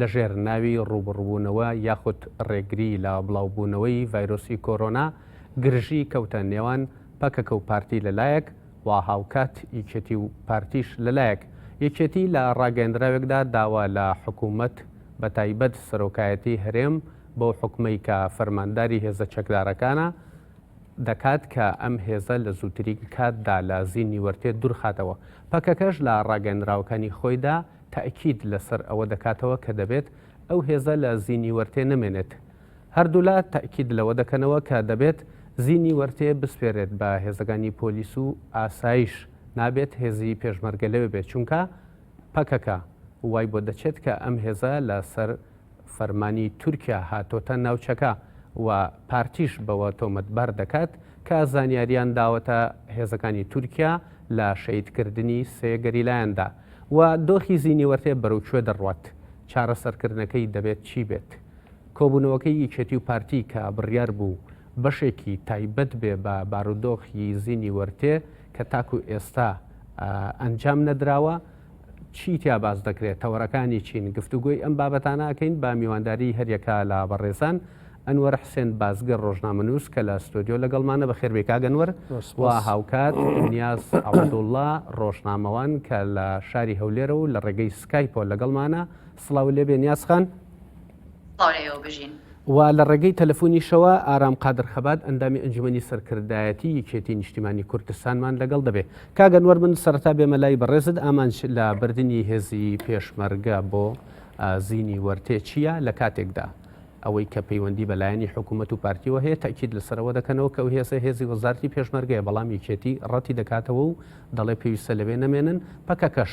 لە ژێر ناوی ڕووبڕووبوونەوە یاخود ڕێگری لە بڵاوبوونەوەی ڤایرۆسی کۆرۆنا گرژی کەوتە نێوان پەکەکە و پارتی لە لایەک و هاوکات یەکێتی و پارتیش لە لایەک یەکێتی لە ڕاگەیەندراوێکدا داوا لە حکوومەت بە تایبەت سەرۆکایەتی هەرێم بەو حوکمەی کە فەرمانداری هێزە چەکدارەکانە دەکات کە ئەم هێزە لە زووترین کاتدا لە زینی وەرتێ دوورخاتەوە پەکەکەش لە ڕاگەیەندراوەکانی خۆیدا تەئکید لەسەر ئەوە دەکاتەوە کە دەبێت ئەو هێزە لە زینی وەرتێ نەمێنێت. هەردوولا تەئکید لەوە دەکەنەوە کە دەبێت زینی وەرتێ بسپێرێت بە هێزەکانی پۆلیس و ئاسایش، نابێت هێزی پێشمەرگە لەوێ بێت، چونکە پەکەکە وای بۆ دەچێت کە ئەم هێزە لەسەر فەرمانی تورکیا هاتۆتە ناوچەکە و پارتیش بەوە تۆمەتبار دەکات کە زانیاریان داوەتە هێزەکانی تورکیا لە شەهیدکردنی سێ گەریلایاندا و دۆخی زینیوەرتێ بەرەو کوێ دەڕوات؟ چارەسەرکردنەکەی دەبێت چی بێت؟ کۆبوونەوەکەی یەکێتی و پارتی کە بڕیار بوو بەشێکی تایبەت بێ بە بارودۆخی زینیوەرتێ کە تاکو ئێستا ئەنجام نەدراوە، چی تیا باس دەکرێت، تەوەرەکانی چین، گفتوگۆی ئەم بابەتانە ئەکەین بە میوانداری هەریەکە لە بەڕێزان، ئەنوەر حسێن بازگر ڕۆژنامەنووس کە لە ستۆدیۆ لەگەڵمانە، بەخێربێی کاک ئەنوەر، و هاوکات نیاز عەبدوڵا ڕۆژنامەوان کە لە شاری هەولێرە و لە ڕێگەی سکایپەوە لەگەڵمانە، سڵاوو لێبێ نیاز خان. سڵاو لە ئێوە بژین. و لە ڕێگەی تەلەفونیشەوە ئارام قادر خەبات ئەندامی ئەنجومەنی سەرکردایەتی یەکێتی نیشتیمانی کوردستانمان لەگەڵ دەبێ. کاک ئەنوەر من سەرەتا بێمە لای بەڕێزت ئامانج لە بردنی هێزی پێشمەرگە بۆ زینی وەرتێ چییە لە کاتێکدا ئەوەی کە پەیوەندی بە لایەنی حکوومەت و پارتیەوە هەیە تاکیید لەسەرەوە دەکەنەوە کە و هێزە هێزی وەزارتی پێشمەرگەیە بەڵام یەکێتی ڕەتی دەکاتەوە و دەڵێ پێویستە لەوێ نەمێنن پەکەکەش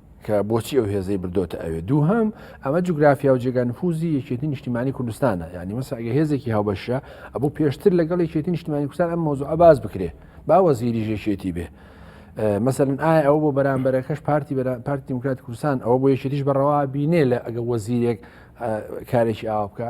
کە بۆچی ئەو هێزەی بردۆتە ئەوێ دووهام ئەمە جوگرافیا و جێگا نفوزی یەکێتی نیشتیمانی کوردستانە ینی مەسە ئەگە هێزێکی هاوبەشە ئەبوو پێشتر لەگەڵ یەکێتی نیشتیمانی کوردستان ئەم مۆزوع باز بکرێ باوە زیری ژێکێتی بێ مەسەرن ئایا ئەو بۆ بەرامبەرەکەش پارتی پارتی دیموکرات کوردستان ئەوە بۆ یەکێتیش بەڕەوا بینێ لە ئەگە وەزیرێک کارێکی ئاو بکە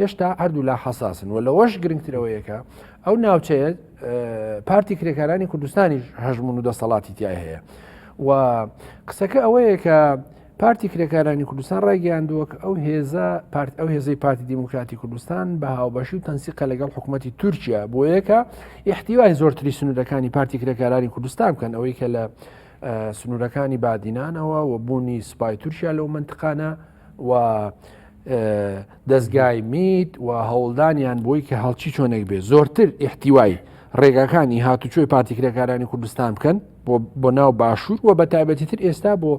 هێشتا هەردوولا حساسن و لەوەش گرنگترەوەیەکە ئەو ناوچەیە پارتی کرێکارانی کوردستانیش هەژمون و دەسەڵاتی تای هەیە و قسەکە ئەوەیە کە پارتی کرێکارانی کوردستان ڕایگەیاندووەک ئەو هێزە پارت ئەو هێزەی پارتی دیموکراتی کوردستان بە هاوبەشی و تەنسیقە لەگەڵ حکوومەتتی تورکیا بۆ یەکە ئیحتیوای زۆرتری سنوورەکانی پارتی کرێکارانی کوردستان بکەن ئەوەی کە لە سنوورەکانی بادینانەوە و بوونی سپای تورکیا لەو منتقانە و دەستگای میت و هەوڵدانیان بۆی کە هەڵچی چۆنێک بێ زۆرتر ئیحتیوای ڕێگاکانی هاتوچۆی پارتیکرێکارانی کوردستان بکەن بۆ ناو باشوور و بە تایبەتی تر ئێستا بۆ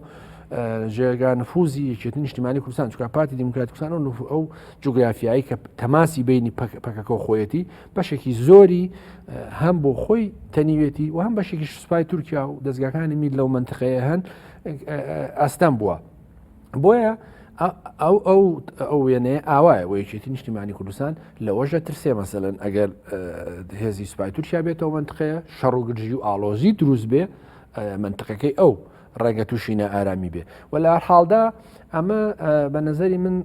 ژێگان نفوزی یەکێت نیشتیمانی کوردستان چکە پارتی دیموکراتکسان و نفو ئەو جوگرافیایی کە تەماسی بینی پەکەکە و خۆیەتی بەشێکی زۆری هەم بۆ خۆی تەنیوێتی و هەم بەشێکی سوپای تورکیا و دەستگاکانی مید لەو منتقەیە هەن ئەستەم بووە. بۆیە ئەو ئەو ئەو وێنەیە ئاوایە و یەکێتی نیشتیمانی کوردستان لەوەشە ترسێ مەسەن ئەگەر هێزی سوپای تورکیا بێتەوە منتقەیە شەڕ و گرژی و ئالۆزی دروست بێ منتقەکەی ئەو ڕێگە تووشینە ئارامی بێ و لە حاڵدا ئەمە بە نظری من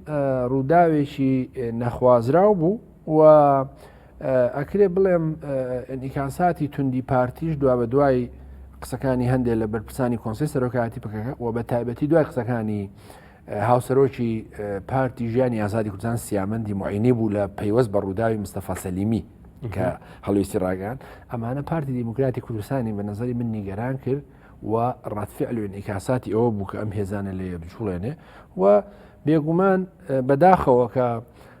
ڕووداوێکی نەخوازراو بوو و ئەکرێ بڵێم ئینیکاساتی توندی پارتیش دوا بە دوای قسەکانی هەندێک لە بەرپرسانی کۆنسی سەرۆکایەتی پکەکە و بە تایبەتی دوای قسەکانی هاوسەرۆکی پارتی ژیانی ئازادی کوردستان سیامەندی معینی بوو لە پەیوەست بە ڕووداوی مستەفا سەلیمی کە هەڵویستی ڕاگەان ئەمانە پارتی دیموکراتی کوردستانی بە نظری من نیگەران کرد و ڕاتفعل و ئیکاساتی ئەوە بوو کە ئەم هێزانە لێ بچوڵێنێ و بێگومان بەداخەوە کە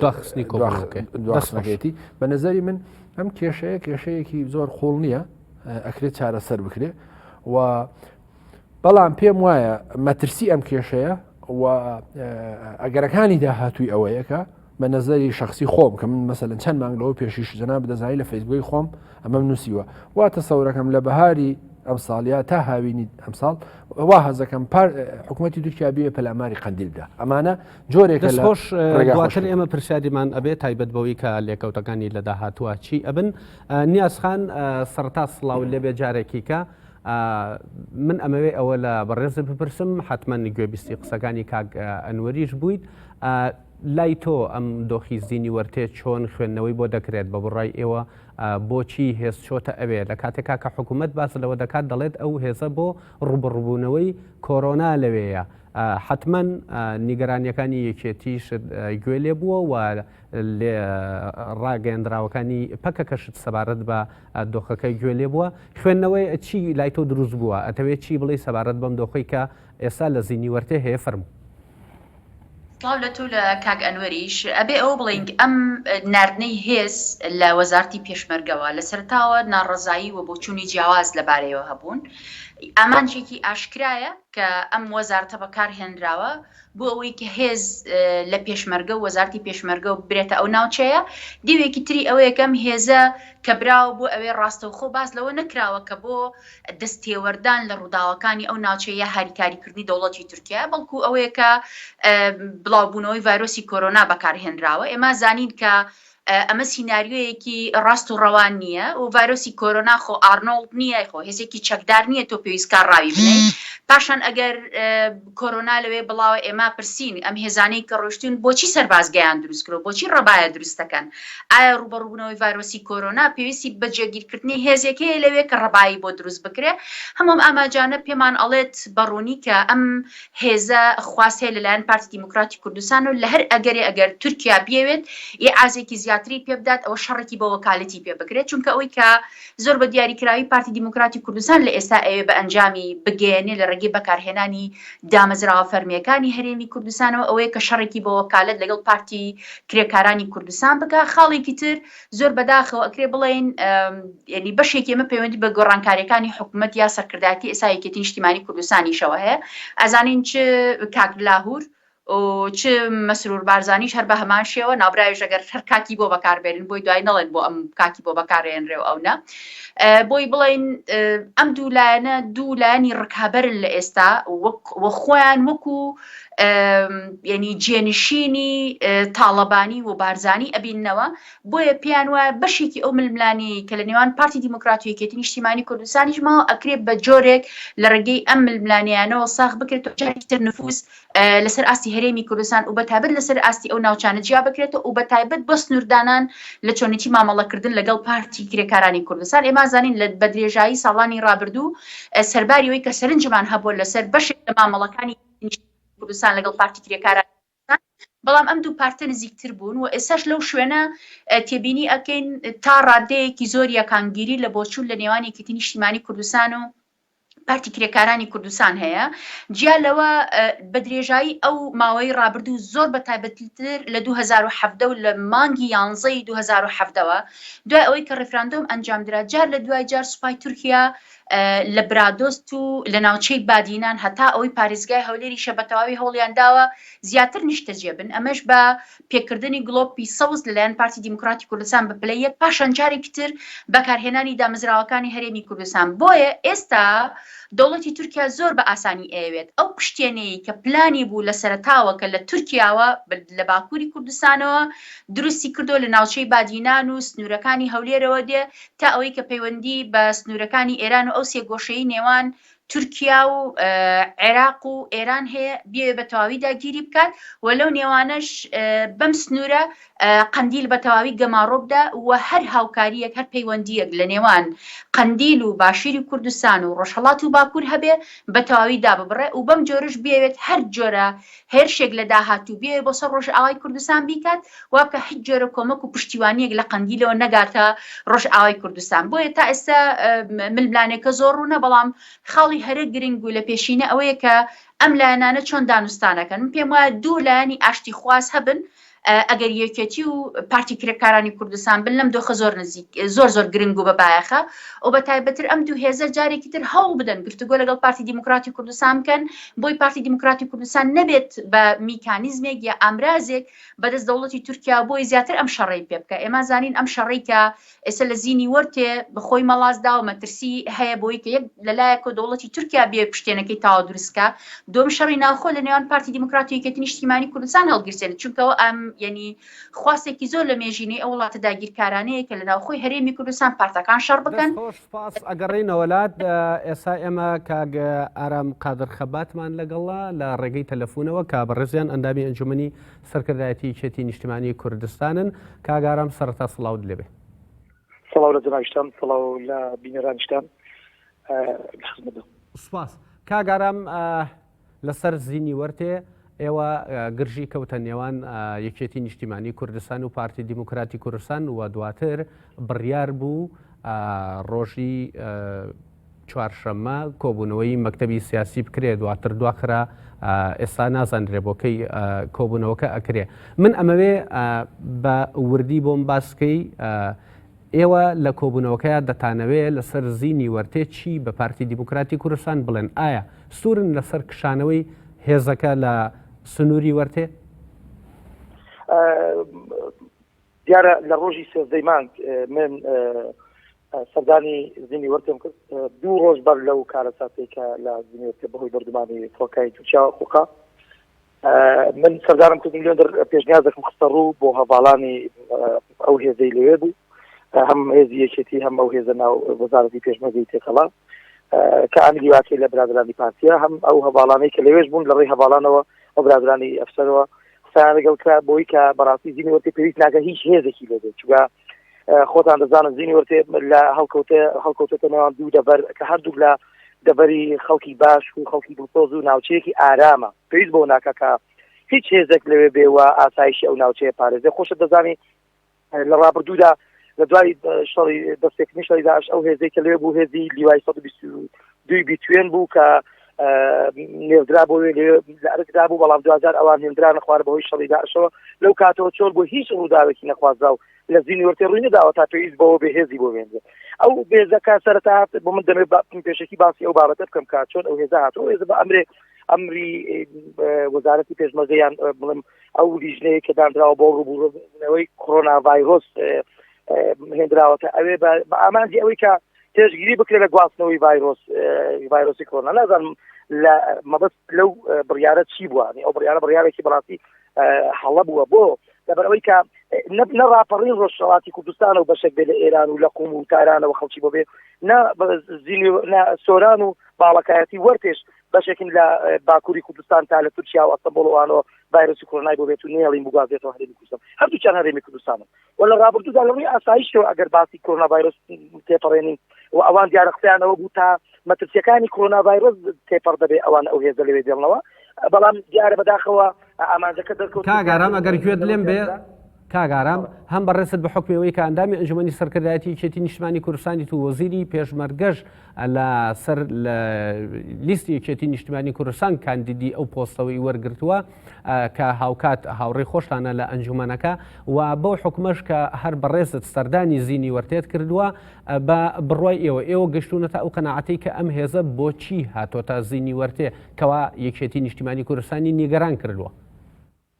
داخستنی کۆخستنەکەێتی بە نظری من ئەم کێشەیە کێشەیەکی زۆر قوڵ نییە ئەکرێت چارەسەر بکرێ و بەڵام پێم وایە مەترسی ئەم کێشەیە و ئەگەرەکانی داهاتووی ئەوەیەکە بە نظری شخصی خۆم کە من مەسەن چەند مانگ لەەوە پێشیش جنا بدەزای لە فەیسبووی خۆم ئەمەم نووسیوە واتە سەورەکەم لە بەهاری ئەم ساڵیا تا هاوینی ئەمساڵ وا هەزەکەم پار حکوومەتتی تورکیا بێ پەلاماری قندیلدا ئەمانە جۆرێک خۆش دواتر ئێمە پرسیاریمان ئەبێ تایبەت بەوەی کە لێکەوتەکانی لە داهاتوە چی ئەبن نیازخان سەرتا سلااو لێبێ جارێکیکە من ئەمەوێ ئەوە لە بەڕێزە بپرسم حتمما گوێبیستی قسەکانی کاک ئەنوەریش بوویت لای تۆ ئەم دۆخی زیینی وەرتێ چۆن خوێندنەوەی بۆ دەکرێت بە بڕای ئێوە بۆچی هێز چۆتە ئەوێ لە کاتێکا کە حکوومەت باس لەوە دەکات دەڵێت ئەو هێزە بۆ ڕوبڕبوونەوەی کۆرۆنا لەوەیە حەتمەن نیگەرانییەکانی یەکێتیش گوێ لێ بووە و ڕاگەیەندراوەکانی پەکەکەشت سەبارەت بە دۆخەکەی گوێ لێ بووە خوێندنەوەی چی لای تۆ دروست بووە ئەتەوێت چی بڵێ سەبارەت بەم دۆخی کە ئێستا لە زینی وەرتێ هەیە فەرمو سڵاو لە تۆ لە کاک ئەنوەریش ئەبێ ئەوە بڵێین ئەم ناردنەی هێز لە وەزارتی پێشمەرگەوە لە سەرتاوە ناڕەزایی و بۆچوونی جیاواز لەبارەیەوە هەبوون ئامانجێکی ئاشکرایە کە ئەم وەزارتە بەکار هێنراوە بۆ ئەوەی کە هێز لە پێشمەرگە و وەزارتی پێشمەرگە و ببرێتە ئەو ناوچەیە، دیوێکی تری ئەوەیە کە ئەم هێزە کە براوە بۆ ئەوێ ڕاستەوخۆ باس لەوە نەکراوە کە بۆ دەست تێوەردان لە ڕووداوەکانی ئەو ناوچەیە یا هاریکاری کردنی دەوڵەتی تورکیایە بەڵکوو ئەوەیە کە بڵاو بوونەوەی ڤایرۆسی کۆرۆنا بەکار هێنراوە ئێمە زانین کە ئەمە سیناریۆیەکی ڕاست و ڕەوان نییە و ڤایرۆسی کۆرۆنا خۆ ئارنۆڵد نییە خۆ هێزێکی چەکدار نییە تۆ پێویست کا ڕاوی بنێی پاشان ئەگەر کۆرۆنا لەوێ بڵاوە ئێمە پرسین ئەم هێزانەی کە ڕۆشتون بۆچی سەربازگەیان دروست کرۆ بۆچی ڕەبایە دروستەکەن ئایا ڕوبەڕوبوونەوەی ڤایرۆسی کۆرۆنا پێویستی بە جێگیرکردنی هێزێک هەیە لەوێ کە ڕەبایی بۆ دروست بکرێ هەموم ئاماجانە پێمان ئەڵێت بەڕوونی کە ئەم هێزە خواست هەیە لەلایەن پارتی دیموکراتی کوردستان و لەهەر ئەگەرێ ئەگەر تورکیا بیەوێت ئیعازێکی زیاتری پێ بدات ئەوە شەڕێکی بە وەکالەتی پێ بکرێت چونکە ئەوەی کە زۆر بە دیاری کراوی پارتی دیموکراتی کوردستان لە ئێستا ئەوێ بە ئەنجامی بگەیەنێ لە ڕێگەی بەکارهێنانی دامەزراوە فەرمییەکانی هەرێمی کوردستانەوە ئەوەیە کە شەڕێکی بە وەکالەت لەگەڵ پارتی کرێکارانی کوردستان بکا خاڵێکی تر زۆر بەداخەوە ئەکرێ بڵێین ینی بەشێکی ئمە پەیوەندی بە گۆڕانکاریەکانی حکوومەت یا سەرکردایەتی ئێسا یەکێتی نیشتیمانی کوردستانیشەوە هەیە ئەزانین چ کاک لاهور چ مەسرور بارزانانیش هەر بە هەمان شێوە نابراویش ئەگەر هەر کاکی بۆ بەکاربێنن بۆی دوای نڵێن بۆ ئەم کاکی بۆ بەکارێنرێ و ئەو نە بۆی بڵین ئەم دوو لایەنە دوو لایەنی ڕکابەرن لە ئێستا وەک وەخۆیان وەکو یعنی جێنشینی تاڵەبانی و بارزانانی ئەبینەوە بۆیە پێیان وایە بەشێکی ئەو ململانی کە لە نێوان پارتی دیموکراتیەکێتی نیشتیمانی کوردستانیش ماوە ئەکرێت بە جۆرێک لە ڕێگەی ئەم ململانیانەوە ساخ بکرێت جارتر نفوس لەسەر ئاستی هەرێمی کوردستان و بە تابێت لەسەر ئاستی ئەو ناوچانە جیا بکرێتەوە و بە تایبەت بە سنووردانان لە چۆنێتی مامەڵەکردن لەگەڵ پارتی کرێکارانی کوردستان ئێمە زانین لە بەدرێژایی ساڵانی ڕابردوو سەرباری ئەوەی کە سەرنجمان هەبووە لەسەر بەشێک لە مامەڵەکانی نیشتمانی کوردستان لەگەڵ پارتی کرێکارانی کوردستان، بەڵام ئەم دوو پارتە نزیکتر بوون و ئێستاش لەو شوێنە تێبینی ئەکەین تا ڕاددەیەکی زۆر یەکانگیری لە بۆچوون لە نێوان یەکێتی نیشتیمانی کوردستان و پارتی کرێکارانی کوردستان هەیە. جیا لەوە بە درێژایی ئەو ماوەی ڕابردوو زۆر بە تایبەتتر لە دوو هەزار و حەڤدە و لە مانگی یانزەی دوو هەزار و حەڤدەوە دوای ئەوەی کە ڕیفراندۆم ئەنجامدرا جار لە دوای جار سوپای تورکیا لە برادۆست و لە ناوچەی بادینان هەتا ئەوەی پاریزگای هەولێریشە بە تەواوی هەوڵیان داوە زیاتر نیشتەجێ بن ئەمەش بە پێکردنی گڵۆپی سەوز لەلایەن پارتی دیموکراتی کوردستان بە پلە یەک پاشان جارێکی تر بەکارهێنانی دامەزراوەکانی هەرێمی کوردستان بۆیە ئێستا دەوڵەتی تورکیا زۆر بە ئاسانی ئەیەوێت ئەو پشتێنەی کە پلانی بوو لە سەرتاوە کە لە تورکیاوە لە باکووری کوردستانەوە دروستی کردو لە ناوچەی بادینان و سنوورەکانی هەولێرەوە دێ تا ئەوەی کە پەیوەندی بە سنوورەکانی ئێران و ئەو سێگۆشەی نێوان تورکیا و عێراق و ئێران هەیە بێ بە تەواوی داگیری بکات و لەو نێوانەش بەم سنوورە قەندیل بە تەواوی گەماڕۆبدا و هەر هاوکاریەک هەر پەیوەندیەک لە نێوان قەندیل و باشیری کوردستان و ڕۆژهڵات و باکوور هەبێ بە تەواوی داببڕێ و بەم جۆرش بێوێت هەر جۆرە هێرشێک لە داهاتوو بیەوێت بۆ سەر ڕۆژئاوای کوردستان بیکات، وابکات هیچ جۆرە کۆمەک و پشتیوانییەک لە قەندیلەوە نەگاتە ڕۆژئاوای کوردستان. بۆیە تا ئێستا ململانێکە زۆر ڕوونە، بەڵام خاڵی هەرە گرنگ و لە پێشینە ئەوەیە کە ئەم لایەنانە چۆن دانوستانەکەن. من پێموایە دوو لایەنی ئاشتیخواز هەبن، ئەگەر یەکێتی و پارتی کرێکارانی کوردستان بن لەم دۆخە زۆر نزیک زۆر زۆر گرنگ و بە بایەخە و بە تایبەتر ئەم دوو هێزە جارێکی تر هەوڵ بدەن گفتوگۆ لەگەڵ پارتی دیموکراتی کوردستان بکەن بۆی پارتی دیموکراتی کوردستان نەبێت بە میکانیزمێک یا ئامرازێک بەدەست دەوڵەتی تورکیا بۆی زیاتر ئەم شەڕی پێ بکە ئێمە زانین ئەم شەڕی کە ئێستا لە زینیوەرتێ بە خۆی مەڵاس داوە مەترسی هەیە بۆی کە یەک لە لایەکۆ دەوڵەتی تورکیا بێ پشتێنەکەی تاوە دروستکە دۆم شەڕی ناوخۆ لە نێوان پارتی دیموکرات و یەکێتی نیشتیمانی کوردستان هەڵگیرسێنێت چونکەەوە ئەم یعنی خواستێکی زۆر لە مێژینەی ئەو وڵاتە داگیرکارانەیە کە لە ناوخۆی هەرێمی کوردستان پارتەکان شەڕ بکەن سپاس ئەگەڕێنەوەلات ئێسا ئێمە کاگ ئارام قادر خەباتمان لەگەڵا لە ڕێگەی تەلەفۆنەوە کا بە ڕێزیان ئەندامی ئەنجومی سەرکردایەتی یەکێتی نیشتمانی کوردستانن کاک ئارام سەرەتا سڵاوت لێبێ. سڵاو لە جەنابیشتان سڵاو لە بینەرانیشتان لە خزمەتدام. سوپاس کاک ئارام لەسەر زینی وەرتێ ئێوە گرژی کەوتە نێوان یەکێتی نیشتیمانی کوردستان و پارتی دیموکراتی کوردستان و دواتر بڕیار بوو ڕۆژی چوارشەممە کۆبوونەوەی مەکتەبی سیاسی بکرێ دواتر دواخرا ئێستا نازانرێ بۆ کەی کۆبوونەوەکە ئەکرێ من ئەمەوێ بە وردی بۆم باسکەی ئێوە لە کۆبوونەوەکەیان دەتانەوێ لەسەر زینی وەرتێ چی بە پارتی دیموکراتی کوردستان بڵێن ئایا سوورن لەسەر کشانەوەی هێزەکە لە سنووری وەرتێ دیارە لە ڕۆژی سێزدەی مانگ من سەردانی زینیوەرتم کرد دوو ڕۆژ بەر لەو کارەساتەی کە لە زینیوەرتە بەهۆی بردمانی فڕۆکەی تورکیا قوقا من سەردانم کردم لێندر پێشنیاز دەکەم خستە ڕوو بۆ هەواڵانی ئەو هێزەی لەوێ بوو هەم هێزی یەکێتی هەم ئەو هێزە ناو وەزارەتی پێشمەگەی تێکەڵات کە ئەنگلی واکەی لە برادرانی پارتیا هەم ئەو هەواڵانەی کە لەوێش بوون لە ڕێی هەواڵانەوە ئەو برادرانی ئەفسەرەوە قسەیان لەگەڵ کرا بۆی کە بەڕاستی زینی وەرتێ پێویست ناکە هیچ هێزێکی لێ بێت چگە خۆتان دەزانن زینی وەرتێ لە هەڵکەوتە هەڵکەوتەتە نێوان دوو دەبەر کە هەردوو لە دەبەری خەڵکی باش و خەڵکی دڵسۆز و ناوچەیەکی ئارامە پێویست بۆ ناکە کە هیچ هێزێک لەوێ بێوە ئاسایشی ئەو ناوچەیە پارێزێ خۆشە دەزانی لە ڕابردوودا لە دوای شەڕی دەستێکنی شەڕی داعش ئەو هێزەی کە لێ بوو هێزی لیوای سەد دوی بیتوێن بوو کە نێودرا بۆ لە ئەرکدا بوو بەڵام دوجار ئەوان هێندرا نەخوارە بەهۆی شەڕی داعشەوە لەو کاتەوە چۆر بۆ هیچ ڕووداوێکی نەخوازدا و لە زینی وەرتێ ڕووی نەداوە تا پێویست بەوە بەهێزی بۆ وێنێ ئەو بێزەکە سەرەتا هات بۆ من دەمێ پێشکی باسی ئەو بابەتە بکەم کا چۆن ئەو هێزە هاتەوە هێزە بە ئەمرێ ئەمری وەزارەتی پێشمەزەیان بڵم ئەو لیژنەیە کە دانراوە بۆ ڕوبوورەوەی کۆرۆنا ڤایرۆس هێنراوەتە ئەوێ بە ئامانجی ئەوەی کە پێشگیری بکرێت لە گواستنەوەی ڤایرۆس ڤایرۆسی کۆرۆنا نازانم لە مەبەست لەو بڕیارە چی بووە ئەو بڕیارە بڕیارێکی بەڕاستی هەڵە بووە بۆ لەبەرەوەی کە نە ڕاپەڕین ڕۆژهڵاتی کوردستان و بەشێک بێ لە ئێران و لە قوم و تارانەوە خەڵکی بۆ بێ نە سۆران و باڵەکایەتی وەرتێش بەشێکم لە باکووری کوردستان تا لە تورکیا و ئەستەمبۆڵ و ئانۆ ڤایرۆسی کۆرۆنای بۆ بێت و نێڵیم بگوازێتەوە هەرێمی کوردستان هەردووکیان هەرێمی کوردستانن و لە ڕابردوودا لەڕووی ئاسایشتەوە ئەگەر باسی کۆرۆنا ڤایرۆس تێپەڕێنین و ئەوان دیارە قسەیانەوە بوو تا مەترسیەکانی کۆرۆنا ڤایرۆس تێپەڕ دەبێ ئەوان ئەو هێزە لەوێ دێڵنەوە بەڵام دیارە بەداخەوە ئامانجەکە دەرکەوت کاگارام ئەگەر گوێت لێم بێ کاک ئارام هەم بەڕێزت بە حکمی ئەوەی کە ئەندامی ئەنجومەنی سەرکردایەتی یەکێتی نیشتمانی کوردستانی تو وەزیری پێشمەرگەش لە سەر لە لیستی یەکێتی نیشتمانی کوردستان کاندیدی ئەو پۆستەوەی وەرگرتووە کە هاوکات هاوڕێی خۆشتانە لە ئەنجومەنەکە و بەو حکومەش کە هەر بەڕێزت سەردانی زینی وەرتێت کردووە بە بڕای ئێوە ئێوە گەشتونەتە ئەو قەنەعەتی کە ئەم هێزە بۆچی هاتۆتە زینی وەرتێ کەوا یەکێتی نیشتمانی کوردستانی نیگەران کردووە.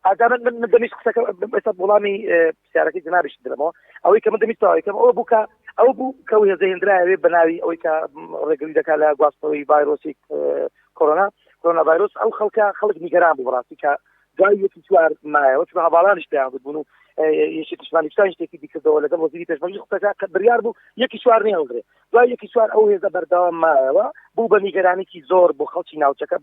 ئاجا من من من دەمیشت قسەکە ئێستا وڵامی پرسیارەکەی جنابیشت درەمەوە ئەوەی کە من دەمیشت تەواوی کەم ئەوە بوو کە ئەو بوو کە و هێزە هێندرایەوێ بە ناوی ئەوەی کە ڕێگری دەکات لە گواستنەوەی ڤایرۆسی کۆرۆنا کۆرۆنا ڤایرۆس ئەو خەڵکە خەڵک نیگەران بوو بەڕاستی کە دوای یەکی چوار مایەوە چون هەواڵانیش پێیان گوتبوون و یەکی پشمانی شتانی شتێکی دیکردەوە لەگەڵ وەزیری پێشمەرجی قسەکە کە بڕیار بوو یەکی چوار نێهەڵدرێ دوای یەکی چوار ئەو هێزە بەردەوام مایەوە بوو بە نیگەرانێکی زۆر بۆ خەڵکی ناوچەکە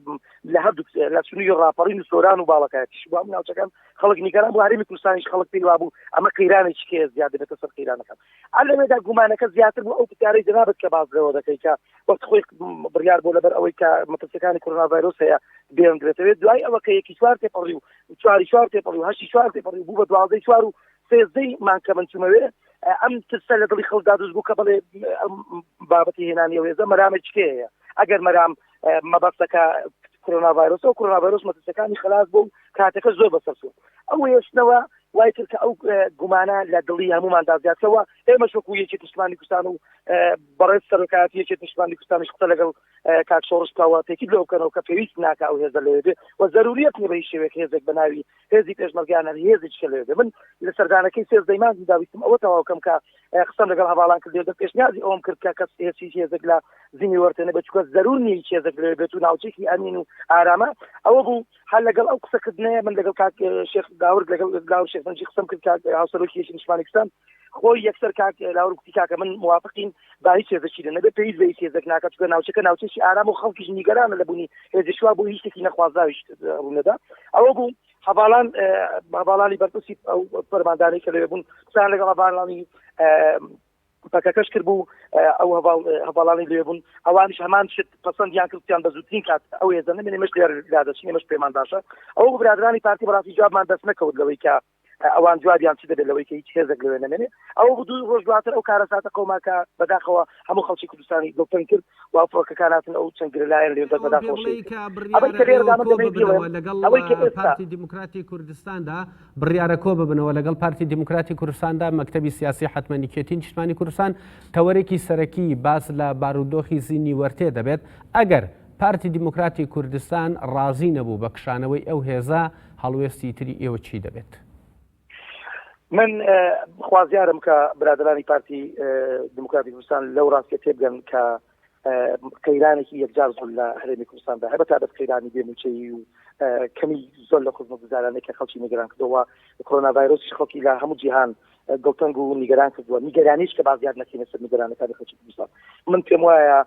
لە هەردوو لە سنووی ڕاپەڕین و سۆران و باڵەکەتیش بۆ ئەم ناوچەکەم خەڵک نیگەران بۆ هەرمی کوردستانیش خەڵک پێی وابوو ئەمە قەیرانێکی کێ زیاد دەبێتە سەر قەیرانەکەم لەوێدا گومانەکە زیاتر بوو ئەو پرسیارەی جنابت کە باس لەوە دەکەی کە وەخت خۆی بڕیار بۆ لەبەر ئەوەی کە مەترسەکانی کۆرونا ڤایرۆس هەیە بێنرێتەوێت دوای ئەوە کە یەکی چوار تێپەڕی و چواری چوار تێپەڕی و هەشتی چوار تێپەڕی بوو بە دوازدەی چوار و سێزدەی مانگ کە من چوومەوێ ئەم ترسە لە دڵی خەڵکدا دروست بوو کە بڵێ ئەم بابەتی هێنانی ئەو هێزە مەرامێکی هەیە ئەگەر مەرام مەبەستەکە کرونا ڤایرۆس و کرونا ڤایرۆس مەترسەکانی خلاص بوو کاتەکە زۆر بەسەر بوو ئەو هێشتنەوە وای کرد کە ئەو گومانە لە دڵی هەمومان دازیاتەوە ئێمە شکو یەکی پشتمانی کوردستان و بەڕێز سەرۆکاتی یەکی پشتمانی کوردستانیش قسە لەگەڵ کاک سۆڕش تاوا تەکید لەوە بکەنەوە کە پێویست ناکا ئەو هێزە لەوێ بێ و زەروریەت نیە بە هیچ شێوەیەک هێزێک بە ناوی هێزی پێشمەرگەیان هەر هێزێکی کە لەوێ بێ من لە سەردانەکەی سێزدەی مانگی دا ویستم ئەوە تەواو کەم کە قسەم لەگەڵ هەڤاڵان کرد لێدە پێشنیازی ئەوم کرد کە کەس هێز هیچ هێزێک لە زیمی وەرتێنە بێت چونکە زەرور نیە هیچ هێزێک لەوێ بێت و ناوچەیەکی ئەمین و ئارامە ئەوە بوو هەر لەگەڵ ئەو قسە کردنەیە من لەگەڵ کاک شێخ داورد لەگەڵ لاور شێخ بنجی قسەم کرد کاک هاوسەرۆکی یەکی نیشمانێکستان خۆی یەکسەر کاک لاور کوتی کاکە من موافقین با هیچ هێزەکی لە نەبێت پێویست بە هیچ هێزەک ناکات چونکە ناوچەکە ناوچەکی ئارام و خەڵکیش نیگەرانە لە بوونی هێزشوا بۆ هیچ شتێکی نەخوازراویش ڕوونەدا ئەوە بوو هەواڵان هەواڵانی بەرپرسی ئەو پەرماندانی کە لەوێ بوون قسان لەگەڵ هەواڵانی پەکەکەش کرد بوو ئەو هەڤاڵ هەڤاڵانی لێ بوون ئەوانیش هەمان شت پەسەندیان کرد وتیان بە زووترین کات ئەو هێزە نەمێنێ ئێمەش لێ لا دەچین ئێمەش پێمان باشە ئەو برادرانی پارتی بەڕاستی جوابمان دەست نەکەوت لەوەی کە ئەوان جوابیان چی دەبێت لەوەی کە هیچ هێزێک لەوێ نەمێنێ ئەو دوو ڕۆژ دواتر ئەو کارەساتە قەوما کە بەداخەوە هەموو خەڵکی کوردستانی دڵتەنگ کرد وا فڕۆکەکان هاتن ئەو چەند گرە لایەن لێ دەر بەداخەوە ئەوەی شەهید کە کرد ئەوەی کە بڕیارە لێرەدا ئێوە من کۆ دەمەوێت ببنەوە بیڵێم لەگەڵ ئەوەی کە ئێستا پارتی دیموکراتی کوردستاندا بڕیارە کۆ ببنەوە لەگەڵ پارتی دیموکراتی کوردستاندا مەکتەبی سیاسی حتمەن یەکێتی نیشتمانی کوردستان تەوەرێکی سەرەکی باس لە بارودۆخی زینی وەرتێ دەبێت ئەگەر پارتی دیموکراتی کوردستان ڕازی نەبوو بە کشانەوەی ئەو هێزە هەڵوێستی تری ئێوە چی دەبێت؟ من خوازیارم کە برادرانی پارتی دموکراتی کوردستان لەو ڕاستە تێبگەن کە قەیرانێکی یەکجار زۆر لە هەرێمی کوردستاندا هەبە تا بەس قەیرانی بێموچەیی و کەمی زۆر لە خزمە گوزارانێک کە خەڵکی نیگەران کردەوە کۆنا ڤایرۆسی خەڵکی لە هەموو جیهان دڵتەنگ و نیگەران کردووە نیگەرانیش کە بازیار نەکەینە سەر نیگەرانەکانی خەڵکی کوردستان من پێم وایە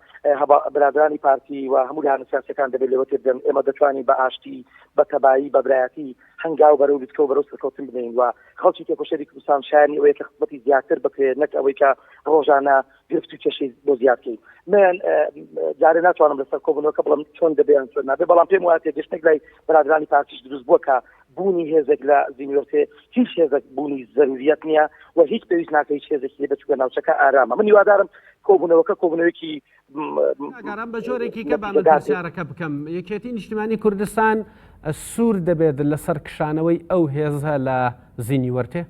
برادرانی پارتی و هەموو لە هەنسیاسەکان دەبێت لەوە تێبگەن ئێمە دەتوانین بە ئاشتی بە تەبایی بە برایەتی هەنگاو بەرەو لوتکە و بەرەو سەرکەوتن بنێین و خەڵکی تێکۆشەری کوردستان شایانی ئەوەیە کە خزمەتی زیاتر بکرێت نەک ئەوەی کە ڕۆژانە گرفت و کێشەی بۆ زیاد بکەین من جارێ ناتوانم لەسەر کۆبوونەوەکە بڵم چۆن دەبێ یان چۆن نابێ بەڵام پێم وایە تێگەشتنێک لای برادرانی پارتیش دروست بووە کە بوونی هێزێک لە زینیۆرتێ هیچ هێزێک بوونی زەروریەت نییە و هیچ پێویست ناکە هیچ هێزێکی لێ بچووکە ناوچەکە ئارامە من هیوادارم کۆبوونەوەکە کۆبوونەوەیەکی کاکارام بە جۆرێکی کە با من پرسیارەکە بکەم یەکێتی نیشتمانی کوردستان سوور دەبێت لەسەر کشانەوەی ئەو هێزە لە زینی وەرتێ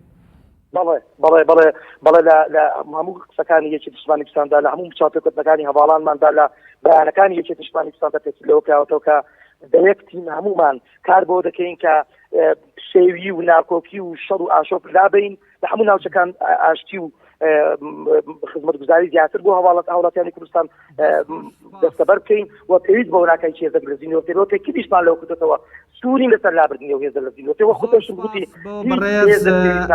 بەڵێ بەڵێ بەڵێ بەڵێ لە هەموو قسەکانی یەکی دشمانستاندا لە هەموو چاپێکردنەکانی هەواڵانماندا لە بەیانەکانی یەکی دشمانستاندا پێسی لەوە کراوەتەوە کە دەیەک تیم هەمومان کار بۆ دەکەین کە شێوی و ناکۆکی و شەڕ و ئاشۆپ لابین لە هەموو ناوچەکان ئاشتی و خزمەتگوزاری زیاتر بۆ هەواڵەت هاوڵاتیانی کوردستان دەستەبەر بکەین و پێویست بۆ ناکەین چێزە لەزیینەوەەوە کە کلیشمان لەو کردێتەوە سووری لەسەر لابردنی و هێزە لە زیینەوەەوە خودشم گوتی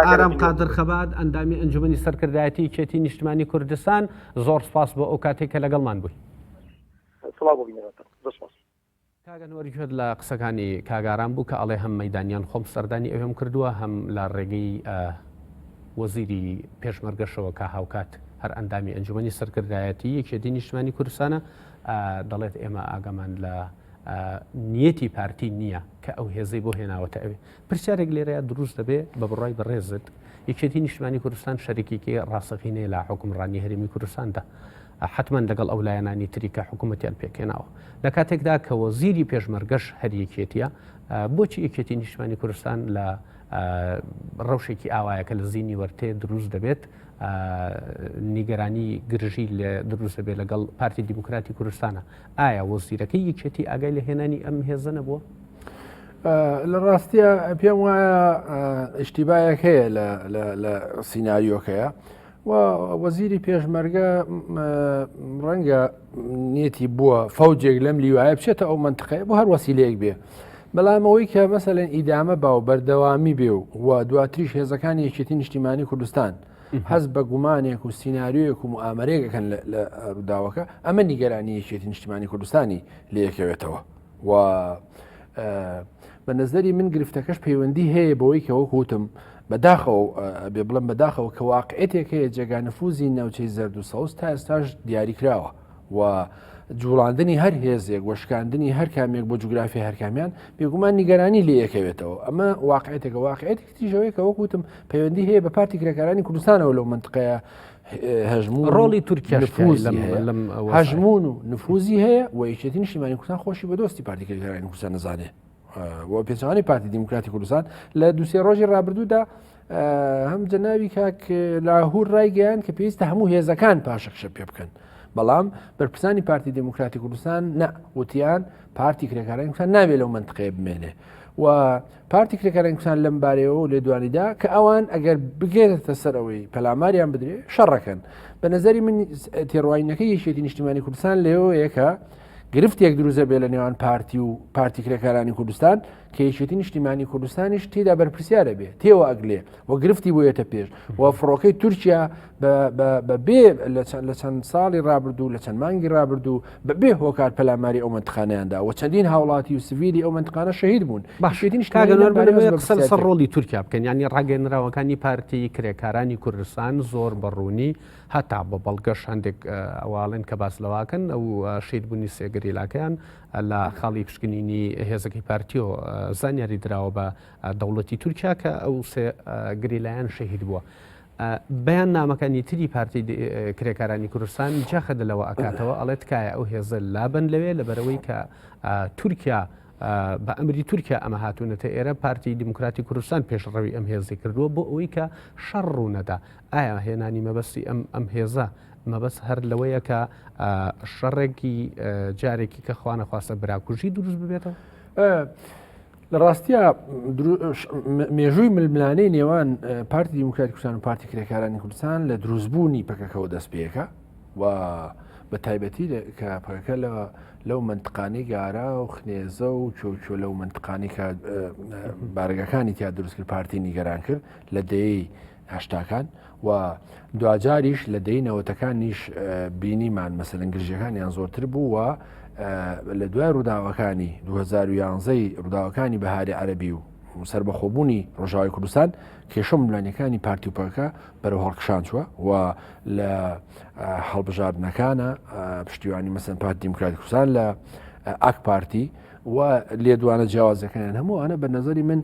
ئارام قادر خەبات ئەندامی ئەنجومی سەرکردایەتی کێتی نیشتمانی کوردستان زۆر سپاس بۆ ئەو کاتێک کە لەگەڵمان بووی سڵاو بۆ بینەرەکە زۆر سپاس کاک ئەنوەر گوێت لە قسەکانی کاک ئارام بوو کە ئەڵێ هەم مەیدانیان خۆم سەردانی ئەوێم کردووە هەم لە ڕێگەی وەزیری پێشمەرگەشەوە کە هاوکات هەر ئەندامی ئەنجومەنی سەرکردایەتی یەکێتی نیشتمانی کوردستانە دەڵێت ئێمە ئاگامان لە نیەتی پارتی نییە کە ئەو هێزەی بۆ هێناوەتە ئەوێ پرسیارێک لێرەیە دروست دەبێ بە بڕای بەڕێزت یەکێتی نیشتمانی کوردستان شەرێکێکی ڕاستەقینەیە لە حکومڕانی هەرێمی کوردستاندا حتمما لەگەڵ ئەو لایەنانی تری کە حکوومەتیان پێکێناوە لە کاتێکدا کە وەزیری پێشمەرگەش هەریەکێتیە بۆچی یەکێتی نیشتمانی کوردستان لە ڕەوشێکی ئاوایەکە لە زیینی وەرتێ دروست دەبێت نیگەرانی گرژی لە دروست دەبێت لەگەڵ پارتی دیموکراتی کوردستانە ئایا وەزیرەکەی یەکێتی ئاگای لە هێنانی ئەم هێزە نەبووە؟ لە ڕاستە پێم وایە ئیشتیبایەک هەیە لە سینناریۆکەیە و وەزیری پێشمەرگە ڕەنگە نیەتی بووە فەوجێک لەم لیوایە بچێتە ئەو منتقەیە بۆ هەر وەسیلەیەک بێ بەڵام ئەوەی کە مەسەلەن ئیدامە باو بەردەوامی بێ و و دواتریش هێزەکانی یەکێتی نیشتیمانی کوردستان حەز بە گومانێک و سینناریۆیەک و ئامرێکەکەن لە ڕووداوەکە ئەمە نیگەرانی یەکێتی نیشتیمانی کوردستانی لەیەکەوێتەوە. و بە نظری من گرفتەکەش پەیوەندی هەیە بەوەی کە وەک وتم بەداخەوە بێ بڵم بەداخەوە کە واقعێتێک هەیە جێگانفوزی ناوچەی زرد و سەوز تا ئێستاش دیاریکراوە و جوڵاندنی هەر هێزێک وەشکاندنی هەر کامێک بۆ جوگرافی هەرکامیان بێگومان نیگەرانی لێ یەکەوێتەوە ئەمە واقعێتێکە واقعێتی تریش ئەوەیە کە وەک وتم پەیوەندی هەیە بە پارتی کرێکارانی کوردستانەوە لەو منطقەیە هەژموو ڕۆڵی تورکیا نفوز لەم- هەیە. لەم ئەوە هەژمون و نفوزی هەیە و یەکێتی نیشتیمانی کوردستان خۆشی بە دۆستی پارتی کرێکارانی کوردستان نەزانێ و پێچەوانەی پارتی دیموکراتی کوردستان لە دوسێ ڕۆژی ڕابردوودا اه، هەم جەناوی کاک لاهور ڕایگەیان کە پێویستە هەموو هێزەکان پاشەکشە پێ بکەن بەڵام بەرپرسانی پارتی دیموکراتی کوردستان نە وتیان پارتی کرێکارانی کوردستان نابێ لەو منطقەیە بمێنێ و پارتی کرێکارە کوردستان لەم بارەیەوە لێدوانیدا کە ئەوان ئەگەر بگێتە سەرەوەی پەلاماریان بدرێ شەڕەکەن بە نظری من تێڕواینەکە یەکێتی نیشتیمانی کوردستان لەوەیەکە گرفتێک دروزە بێ لە نێوان پارتی و پارتی کرێکارانی کوردستان کە یەکێتی نیشتیمانی کوردستانیش تێدا بەرپرسیارە بێ تێوە ئەگلێ و گرفتی بۆیەتە پێش و فڕۆکەی تورکیا بەبێ لە چەند ساڵی رابردوو لە چەند مانگی رابردوو بەبێ هۆکار پەلاماری ئەو منتخانیاندا و چەندین هاوڵاتی و سڤیلی ئەو منتخانە شەهید بوون باشێتین سەر ڕۆلی تورکیا بکەن ینی ڕاگەنراوەکانی پارتی کرێکارانی کوردستان زۆر بەڕوونی هەتا بە بەڵگەش هەندێک ئەواڵێن کە باس لەواکەن ئەو شید بوونی سێگەریلاکەیان لە خاڵی پشکنینی هێزەکەی پارتیۆ زانیاری دراوە بە دەوڵەتی تورکیا کە ئەو سێ گریلایەن شەهید بووە. بەیاننامەکانی تری پارتی کرێکارانی کوردستان جەخت لەوە ئەکاتەوە ئەڵێ تکایە ئەو هێزە لابن لەوێ لەبەرەوەی کە تورکیا بە ئەمری تورکیا ئەمە هاتوونەتە ئێرە پارتی دیموکراتی کوردستان پێشڕەوی ئەم هێزی کردووە بۆ ئەوەی کە شەڕ ڕوونەدا ئایا هێنانی مەبەستی ئەم ئەم هێزە مەبەس هەر لەوەیە کە شەڕێکی جارێکی کە خوانەخواستە براکوژی دروست ببێتەوە؟ لە ڕاستیا مێژووی ململانەی نێوان پارتی دیموکرات کوردستان و پارتی کرێکارانی کوردستان لە دروستبوونی پەکەکەەوە دەست پێەکە و بە تایبەتی کە پەکە لە لەو منتقانی گارا و خنێزە و چۆچۆ لەو منتقانی کە بارگەکانی تیا دروستکرد پارتی نیگەران کرد لە دەی هەشتاکان و دواجاریش لە دەی نەوەتەکانیش بینیمان مەسەرەن گرژەکانیان زۆرتر بوو و لە دوای ڕووداوەکانی 2011ی ڕووداوەکانی بەهاری عەربی و سربەخۆبوونی ڕۆژاوی کوردستان کێشە ملانیەکانی پارتیوپەکە بەرەو هەڵکشان چووە و لە هەڵبژاردنەکانە پشتیوانی مەسن پارت دیموکراتی کوردستان لە ئاک پارتی و لێدوانە جیاوازەکەیان هەموو ئەە بە نظری من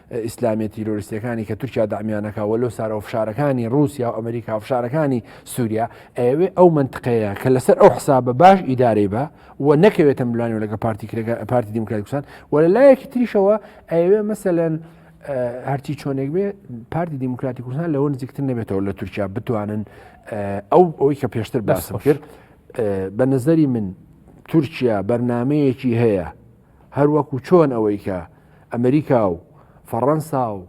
ئیسلامیە تیرۆریستەکانی کە تورکیا دامیانەکە وە لۆ سارەوە فشارەکانی رووسیا و ئەمریکا و فشارەکانی سووریا ئەوێ ئەو منتقەیە کە لەسەر ئەو حسابە باش ئیدارەی بە و نەکەوێتە ملانی و لەگە پارتی کرێگە پارتی دیموکراتکوسان و لە لایەکی تریشەوە ئەوێ مەسەلەن هەرچی چۆنێک بێ پارتی دیموکراتی کوردستان لەەوە نزیکتر نەبێتەوە لە تورکیا بتوانن ئەو ئەوی کە پێشتر باسم کرد بە نظری من تورکیا بەرنمەیەکی هەیە هەروەکو چۆن ئەوەی کە ئەمریکا و فەڕەنسا و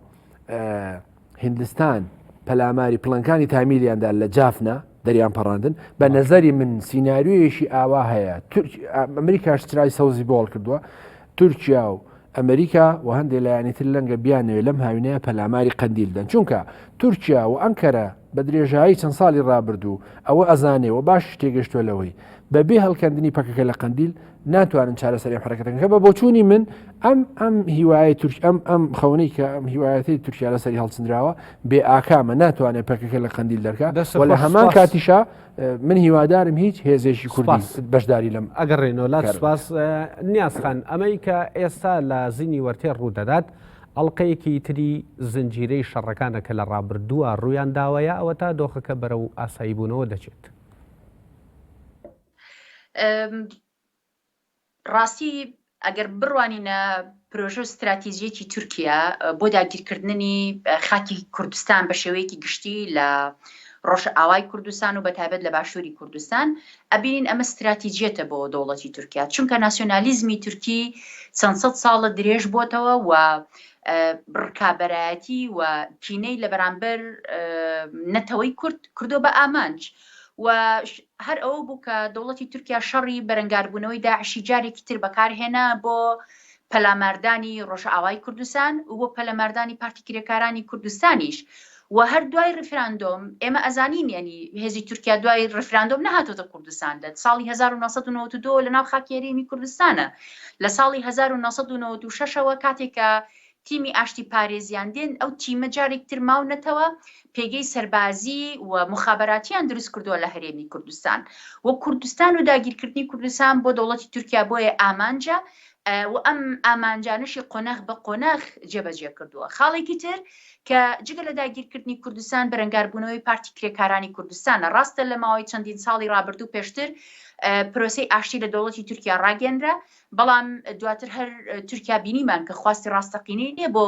هندستان پەلاماری پلنکانی تامیلیاندا لە جافنا دەریان پەڕاندن بە نەزەری من سینناریویەکی ئاوا هەیە ئەمریکاش چرای سەوزی بۆڵ کردووە تورکیا و ئەمریکا و هەندێک لایەنی تر لەنگە بیانوێ لەم هاوینەیە پەلاماری قندیلدەن چونکە تورکیا و ئەنکەرە بە درێژایی چەند ساڵی ڕابردوو ئەوە ئەزانێ و باشیش تێگەشتووە لەوەی بە بێ هەڵکەندنی پەکەکە لە قەندیل ناتوانن چارەسەری حرەکەتەکە بە بۆچوونی من ئەم ئەم هیوایە تورک ئەم ئەم خەونەی کە ئەم هیوایەتی تورکیا لەسەری هەڵچندراوە بێ ئاکامە ناتوانێت پەکەکە لە قەندیل دەرکە وە لە هەمان کاتیشە من هیوادارم هیچ هێزێکی کوردی بەشداری لەم ئەگەڕێنەوە لا سپاس نیازخان ئەمەی کە ئێستا لە زینی وەرتێ ڕوودەدات ئەڵقەیەکی تری زنجیرەی شەڕەکانە کە لە ڕابردووە ڕوویان داوەیە، ئەوەتا دۆخەکە بەرەو ئاساییبوونەوە دەچێت. ڕاستی ئەگەر بڕوانینە پرۆژە و ستراتیجیەکی تورکیا بۆ داگیرکردنی خاکی کوردستان بە شێوەیەکی گشتی لە ڕۆژئاوای کوردستان و بەتابەت لە باشووری کوردستان ئەبینین ئەمە ستراتیجیەتە بۆ دەوڵەتی تورکیا چونکە ناسیۆنالیزمی تورکی چەند سەد ساڵە درێژ بۆتەوە و ڕکابەرایەتی و کینەی لە بەرامبەر نەتەوەی کورد کردو بە ئامانج و هەر ئەوە بوو کە دەوڵەتی تورکیا شەڕی بەرەنگاربوونەوەی داعشی جارێکی تر بەکارهێنا بۆ پەلاماردانی ڕۆژئاوای کوردستان و پەلەماردانی پارتی کرێکارانی کوردستانیش و هەر دوای ڕیفراندۆم ئێمە ئەزانین یەنی هێزی تورکیا دوای ڕیفراندۆم نەهاتۆتە کوردستان دەت ساڵی هەزار و نۆ سەد و نەوەت و دوو لەناو خاکی هەرێمی کوردستانە لە ساڵی هەزار و نۆ سەد و نەوەت و شەش ەوە کاتێک کە تیمی ئاشتی پارێزیان دێن ئەو تیمە جارێک تر ماونەتەوە پێگەی سەربازی و مخابەراتیان دروست کردووە لە هەرێمی کوردستان و کوردستان و داگیرکردنی کوردستان بۆ دەوڵەتی تورکیا بۆیە ئامانجە و ئەم ئامانجانەشی قۆناخ بە قۆناخ جێبەجێ کردووە. خاڵێکی تر کە جگە لە داگیرکردنی کوردستان بەرەنگاربوونەوەی پارتی کرێکارانی کوردستانە. ڕاستە لە ماوەی چەندین ساڵی ڕابردوو پێشتر پرۆسەی ئاشتی لە دەوڵەتی تورکیا ڕاگەنرا، بەڵام دواتر هەر تورکیا بینیمان کە خواستی ڕاستەقینەی نییە بۆ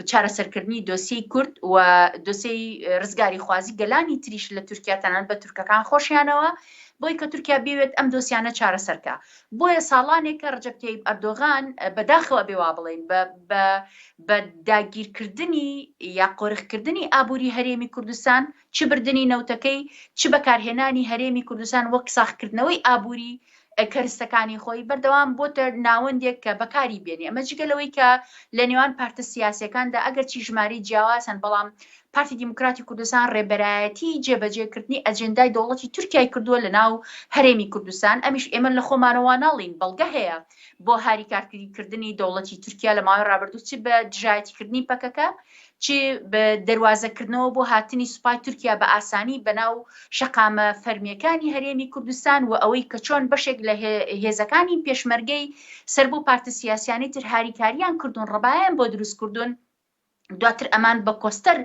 چارەسەرکردنی دۆسیەی کورد و دۆسیەی ڕزگاری خوازی گەلانی تریش لە تورکیا تەنانەت بە تورکەکان خۆشیانەوە بۆی کە تورکیا بێوێت ئەم دۆسیانە چارەسەرکە بۆیە ساڵانێکە رەجەب تەیب ئەردۆغان بە داخەوە ئەبێ وا بڵێین بە بە بە داگیرکردنی یا قۆرخکردنی ئابووری هەرێمی کوردستان چ بردنی نەوتەکەی چ بەکارهێنانی هەرێمی کوردستان وەک ساخکردنەوەی ئابووری کەرستەکانی خۆی بەردەوام بۆتە ناوەندێک کە بەکاری بێنێ ئەمە جگە لەوەی کە لە نێوان پارتە سیاسیەکاندا ئەگەرچی ژمارەی جیاواز هەن بەڵام پارتی دیموکراتی کوردستان ڕێبەرایەتی جێبەجێکردنی ئەجێندای دەوڵەتی تورکیای کردووە لە ناو هەرێمی کوردستان ئەمیش ئێمە لە خۆمانەوە ناڵین بەڵگە هەیە بۆ هاری کارکردنی دەوڵەتی تورکیا لە ماوەی ڕابردوو چ بە دژایەتیکردنی پەکەکە چ بە دەواازەکردنەوە بۆ هاتنی سوپای تورکیا بە ئاسانی بەناو شەقامە فەرمیەکانی هەرێمی کوردستان و ئەوەی کە چۆن بەشێک لە هێزەکانی پێشمەرگەی سەر بۆ پارتە سیاسیانی تر هاریکاریان کردوون ڕبایان بۆ دروست کردوون دواتر ئەمان بە کۆستەر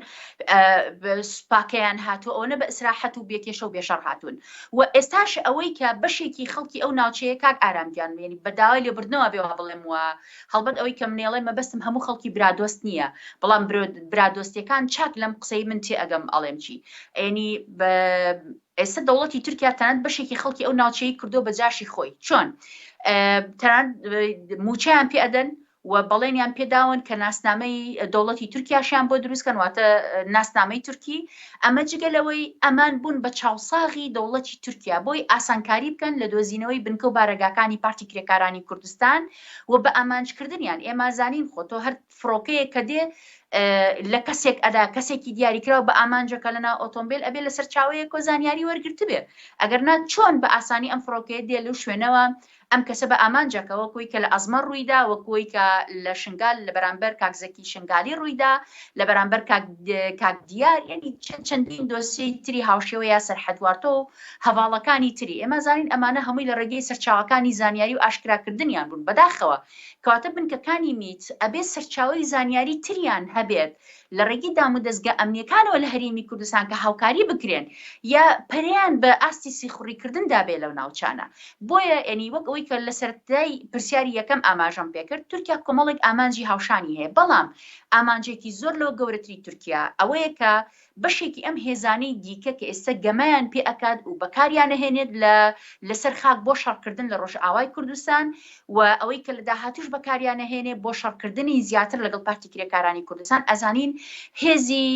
سوپاکەیان هاتووە ئەوەنە بە ئیسراحەت و بێکێشە و بێشەڕ هاتوون و ئێستاش ئەوەی کە بەشێکی خەڵکی ئەو ناوچەیە کاک ئارامگیان وێنی بە داوای لێبردنەوە بێ وا بڵێم وە هەڵبەت ئەوەی کە منێڵێ مەبەستم هەموو خەڵکی برادۆست نییە بەڵام برادۆستەکان چاک لەم قسەی من تێ ئەگەم ئەڵێم چی ئەینی ئێستا دەوڵەتی تورکیا تەنانەت بەشێکی خەڵکی ئەو ناوچەی کردو بە جاشی خۆی چۆن تەنانەت موچەیان پێ ئەدەن و و بەڵێنیان پێداون کە ناسنامەی دەوڵەتی تورکیاشیان بۆ دروست کەن واتە ناسنامەی تورکی، ئەمە جگە لەوەی ئەمان بوون بە چاوساغی دەوڵەتی تورکیا بۆی ئاسانکاری بکەن لە دۆزینەوەی بنکە و بارەگاکانی پارتی کرێکارانی کوردستان و بە ئامانج کردنیان، ئێمازانین خۆ تۆ هەر فڕۆکەیەک کە دێ لە کەسێک ئەدا کەسێکی دیاریکراو بە ئامانجەکە لە ناو ئۆتۆمبیل ئەبێ لە سەرچاوەیەکۆ زانیاری وەرگرتبێ ئەگەر نا چۆن بە ئاسانی ئەم فڕۆکەیە دێ لەو شوێنەوە ئەم کەسە بە ئامانجە کە وەک وەی کە لە ئەزمەڕ ڕووی دا، وەک وەی کە لە شنگال لە بەرامبەر کاک زەکی شنگالی ڕووی دا، لە بەرامبەر کاک کاک دیار، یەنی چەند چەندین دۆسیەی تری هاوشێوە یاسەر حەدوارتۆ و هەڤاڵەکانی تری. ئێمە ئەزانین ئەمانە هەمووی لە ڕێگەی سەرچاوەکانی زانیاری و ئاشکرا کردنیان بوون. بەداخەوە. کەواتە بنکەکانی میت ئەبێ سەرچاوەی زانیاری تریان هەبێت لە ڕێگەی دامودەزگا ئەمنییەکانەوە لە هەرێمی کوردستان کە هاوکاری بکرێن یا پەرەیان بە ئاستی سیخوڕیکردندا بێ لەو ناوچانە. بۆیە یەنی وەک ئەوەی کە لە سەرەتای پرسیاری یەکەم ئاماژەم پێ کرد، تورکیا کۆمەڵێک ئامانجی هاوشانی هەیە، بەڵام ئامانجێکی زۆر لەوە گەورەتری تورکیا ئەوەیە کە بەشێکی ئەم هێزانەی دیکە کە ئێستە گەمەیان پێ ئەکات و بەکاریان ئەهێنێت لە لەسەر خاک بۆ شەڕکردن لە ڕۆژئاوای کوردستان و ئەوەی کە لە داهاتووش بەکاریان ئەهێنێ بۆ شەڕکردنی زیاتر لەگەڵ پارتی کرێکارانی کوردستان ئەزانین هێزی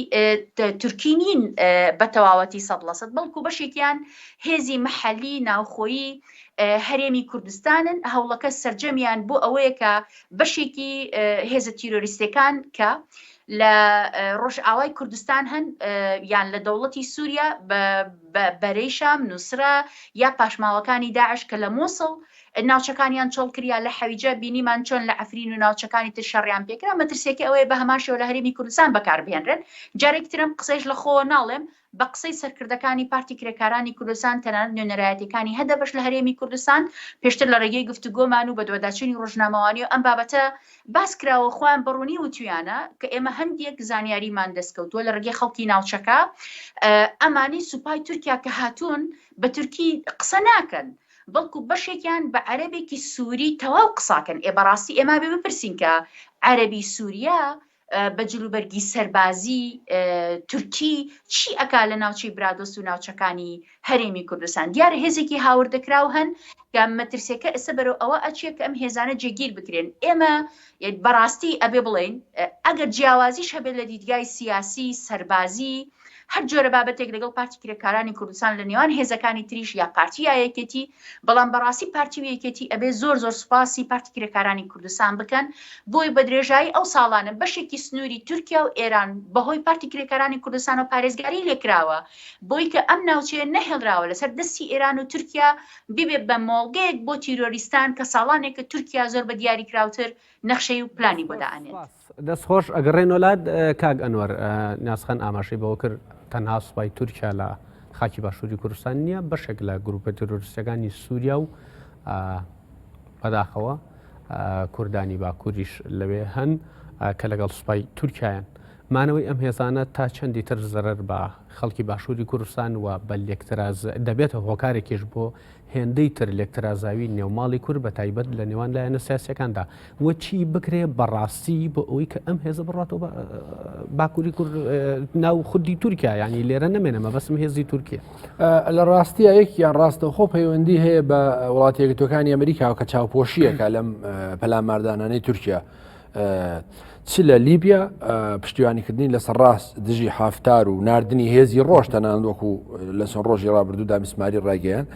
تورکی نین بە تەواوەتی سەد لە سەد بەڵکو بەشێکیان هێزی محەلی ناوخۆیی هەرێمی کوردستانن هەوڵەکە سرجەمیان بۆ ئەوەیە کە بەشێکی هێزە تیرۆریستەکان کە لە ڕۆژئاوای کوردستان هەن یان لە دەوڵەتی سووریا بەرەی شام نووسرا یا پاشماوەکانی داعش کە لە مووسڵ ناوچەکانیان چۆڵ کرد یا لە حەویجە بینیمان چۆن لە عەفرین و ناوچەکانی تر شەڕیان پێکرا مەترسیەکەی ئەوەیە بە هەمان شێوە لە هەرێمی کوردستان بەکاربهێنرێن جارێکی ترم قسەیش لە خۆوە ناڵێم بە قسەی سەرکردەکانی پارتی کرێکارانی کوردستان تەنانەت نوێنەرایەتیەکانی هەدەپەش لە هەرێمی کوردستان پێشتر لە ڕێگەی گفتوگۆمان و بەدواداچوونی ڕۆژنامەوانی و ئەم بابەتە باس کراوە خۆیان بە ڕوونی وتویانە کە ئێمە هەندێک زانیاریمان دەستکەوتووە لە ڕێگەی خەڵکی ناوچەکە ئەمانی سوپای تورکیا کە هاتوون بە تورکی قسە ناکەن بەڵکو بەشێکیان بە عەرەبێکی سوری تەواو قساکەن ئێ بەڕاستی ئێ مابێ بپرسین کە عەرەبی سوریا بە جلوبەرگی سەربازی تورکی چی ئەکا لە ناوچەی برادۆست و ناوچەکانی هەرێمی کوردستان دیارە هێزێکی هاوردەکراو هەن کە مەترسێکە ئێستا بەرەو ئەوە ئەچێت کە ئەم هێزانە جێگیر بکرێن ئێمە یەک بەڕاستی ئەبێ بڵێین ئەگەر جیاوازیش هەبێت لە دیدگای سیاسی، سەربازی، هەر جۆرە بابەتێک لەگەڵ پارتی کرێکارانی کوردستان لە نێوان هێزەکانی تریش یا پارتی یا یەکێتی، بەڵام بەڕاستی پارتی و یەکێتی ئەبێ زۆر زۆر سوپاسی پارتی کرێکارانی کوردستان بکەن بۆی بە درێژایی ئەو ساڵانە بەشێکی سنووری تورکیا و ئێران بە هۆی پارتی کرێکارانی کوردستانەوە پارێزگاری لێکراوە بۆی کە ئەم ناوچەیە نەهێڵراوە لەسەر دەستی ئێران و تورکیا ببێت بە مۆڵگەیەک بۆ تیرۆریستان کە ساڵانێکە تورکیا زۆر بە دیاریکراوتر نەخشەی و پلانی بۆ دائەنێت. دەست خۆش ئەگەڕێنۆ لات کاک ئەنوەر ناسخەن ئاماشەی بەوە کرد تەنها سوپای تورکیا لە خاکی باشووری کوردستان نییە بەشێک لە گروپە ترۆریستەکانی سووریا و بەداخەوە کوردانی باکووریش لەوێ هەن کە لەگەڵ سوپای تورکایان مانەوەی ئەم هێزانە تا چەندی تر زەرەر بە خەڵکی باشووری کوردستان و بە لێکتراز دەبێتە هۆکارێکیش بۆ هێندەی تر لێکترازاوی نێوماڵی کورد بە تایبەت لە نێوان لایەنە سیاسیەکاندا و چی بکرێ بەڕاستی بۆ ئەوی کە ئەم هێزە بڕاتەوە باکووری کورد ناو خودی تورکیا ینی لێرە نمێنە مەبەسم هێزی تورکیا لە ڕاستیە یەکیان ڕاستەخۆ پەیوەندی هەیە بە وڵاتێکتەکانی ئەمریکاوە کە چاوپۆشیەکە لەم پەلاماردانانەی تورکیا. چ لە لیبیا پشتیوانیکردنی لەسەر ڕاست دژی حافتار و نردنی هێزی ڕۆژ تەنان وەکو لە چەند ڕۆژی ڕابردوو دامیسماری ڕایگەیان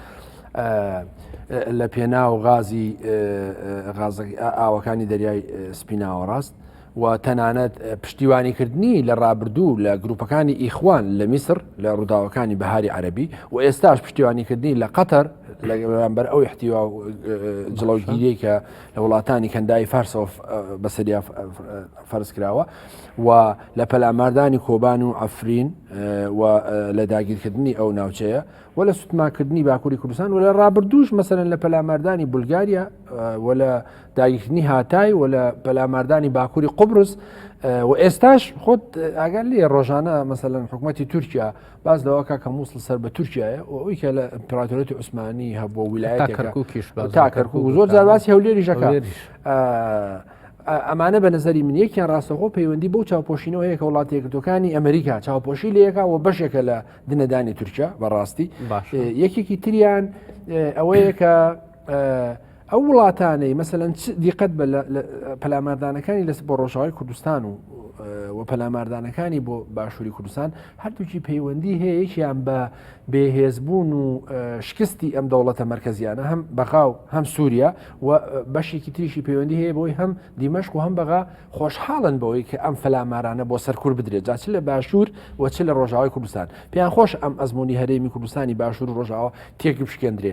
لە پێنا و غازی ئاوەکانی دەریای سپیناوە ڕاست و تەنانەت پشتیوانیکردنی لە ڕابردوو لە گروپەکانی ئیخوان لە میسر لە ڕووداوەکانی بەهاری عەربی و ئێستاش پشتیوانیکردنی لە قەتەر لەگەڵبەر ئەو احتیوا جڵەوگیری کە لە وڵاتانی کەنداوی فارسەوە بەسەریا فەرز کراوە و لە پەلاماردانی کۆبان و ئەفرین و لە داگیرکردنی ئەو ناوچەیە و لە سوتماکردنی باکووری کوردستان و لە ڕابردوش مەسەرن لە پەلاماردانی بولگاریا و لە داگیرکردنی هاتای و لە پەلاماردانی باکووری قوبرس و ئێستاش خۆت ئاگەر لێ ڕۆژانە مەسەن حکوومەتتی تورکیا باز لەوە کاکە مووسڵ سەر بە تورکایە و ئەوی کە لە ئەمپراتۆرێتی عوسمانی هەبووە ویلایەت کەرکوکیش تا کەرکک و زۆر جارباسی هەولێری ژەکە ئەمانە بە نظری من یەکیان ڕاستەخۆ پەیوەندی بۆ چاوپۆشینەوە هەیە کە وڵاتی یەکردەکانی ئەمریکا چاوپۆشی لەکە و بەشێکە لە دنەدانی تورکیا بەڕاستی یەکێکی تریان ئەوەیە کە ئەو وڵاتانەی مەسەەن چ دیقەت بە پەلاماردانەکانی لەس بۆ ڕۆژاوای کوردستان و و پەلاماردانەکانی بۆ باشووری کوردستان هەردووکی پەیوەندی هەیە یەکیان بە بێهێزبوون و شکستی ئەم دەوڵەتە مرکزیانە هەم بەغاو هەم سووریا و بەشێکی تریشی پەیوەندی هەیە بۆی هەم دیمەشق و هەم بەغا خۆشحاڵن بەوەی کە ئەم فەلامارانە بۆ سەرکور بدرێت جاچ لە باشوور و چ لە ڕۆژاوای کوردستان پێیان خۆش ئەم ئەزمموی هەرێمی کوردستانی باشوور ڕۆژاوە تێک بشکێندرێ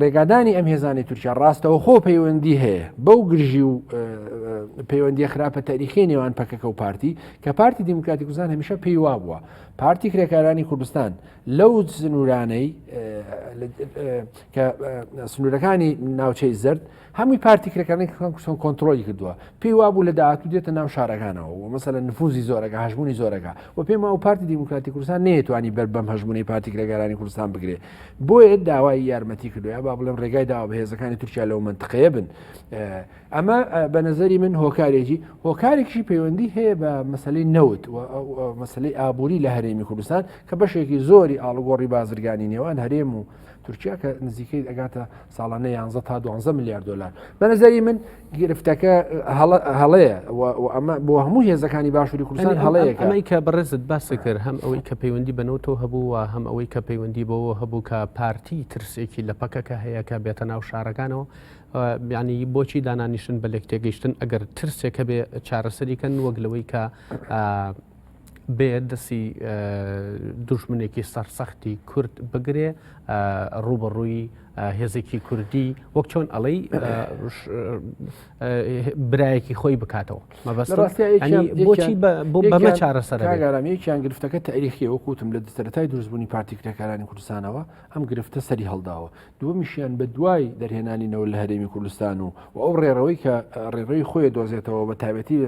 ڕێگادانی ئەم هێزانی تورکیا ڕاستەوە خۆ پەیوەندی هەیە بەو گرژی و پەیوەندی خراپە تاریخی نێوان پەکەکە و پارتی کە پارتی دیموکراتی کوردستان هەمیشە پێی وا بووە پارتی کرێکارانی کوردستان لەو سنوورانەی کە سنوورەکانی ناوچەی زرد هەمووی پارتی کرەکانی کەسان کۆنتترۆلی کردووە پێی وابوو لە داهاتوو دێتە ناو شارەکانەوە و مەسەلە نفوزی زۆرەکە هەژمونی زۆرەکە و پێما و پارتی دیموکراتی کوردستان نێتوانی بەر بەم هەژمونی پارتی کرێگەرانی کوردستان بگرێ بۆیە داوای یارمەتی کردوە با بڵێم ڕێگای داوا بەهێزەکانی تورکیا لەو منتقەیە بن ئەمە بە نظری من هۆکارێکی هۆکارێکی پەیوەندی هەیە بە مەسلەی نەوت و مەسلەی ئابووری لە هەرێمی کوردستان کە بەشێکی زۆری ئاڵگۆڕی بازرگانی نێوان هەرێم و تورکیا کە نزیکەی ئەگاتە ساڵانە یانزە تا دوانزە میلیارد دلار بەنەزەری من گرفتەکە هەڵەیە ئەمە بۆ هەموو هێزەکانی باشووری کوردستان هەڵەیەکە ئەمەی کە بەڕێزت باسی کرد هەم ئەوەی کە پەیوەندی بەنەوتەوە هەبوو و هەم ئەوەی کە پەیوەندی بەوە هەبوو کە پارتی ترسێکی لە پەکەکە هەیە کە بێتە ناو شارەکانەوە بیانی بۆچی دانانیشن بە لێک تێگەیشتن ئەگەر ترسێکە بێ چارەسەریکەن وەک لەوەی کە بێ دەسی دوژمنێکی سەرسەختی کورد بگرێ ڕوبەڕووی هێزێکی کوردی وەک چۆن ئەڵەی برایەکی خۆی بکاتەوە مەبەستڕاستی بەمە چارەسەرگەرامەیەکیان گرفتەکە تاریخی وەکوتم لە دەسەرەتای دروستبوونی پارتیکرێکارانی کوردستانەوە ئەم گرفتە سەری هەڵداوە دووەمیشیان بە دوای دەرهێنانینەوە لە هەرێمی کوردستان و و ئەو ڕێڕەوەی کە ڕێڕەوی خۆی دۆزێتەوە بە تایبەتی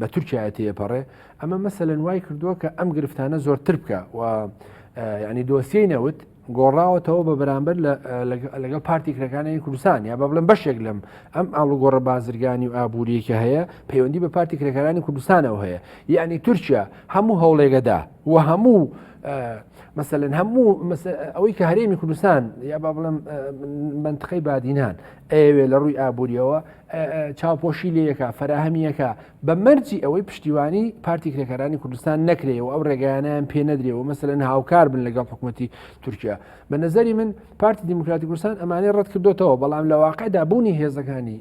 بە تورکایە تێپەڕێ ئەمە مەسەلەن وای کردووە کە ئەم گرفتانە زۆرتر بکە و ینی دۆسیەی نەوت گۆڕاوەتەوە بە بەرامبەر لەگەڵ پارتی کرەکانی کوردستان یا بە بڵم بەشێک لەم ئەم ئاڵوگۆڕە بازرگانی و ئابوووریەکە هەیە پەیوەندی بە پارتی کرێکارانی کوردستانەوە هەیە یعنی تورکیا هەموو هەوڵێگەدا و هەموو مەسەن هەموو ئەوەی کە هەرێمی کوردستان یا با بڵم منتخی بادینان ئەوێ لە ڕووی ئابوووریەوە چاوپۆشی لەکە فراهەمیەکە بە مەرجی ئەوەی پشتیوانی پارتی کرێکارانی کوردستان نەکرێ و ئەو ڕێگەیانیان پێ نەدرێ و مەسەن هاوکار بن لەگەڵ حکوومەتتی تورکیا بە نظری من پارتی دیموکراتی کوردستان ئەمانەی ڕەت کردوتەوە بەڵام لە واقعدا بوونی هێزەکانی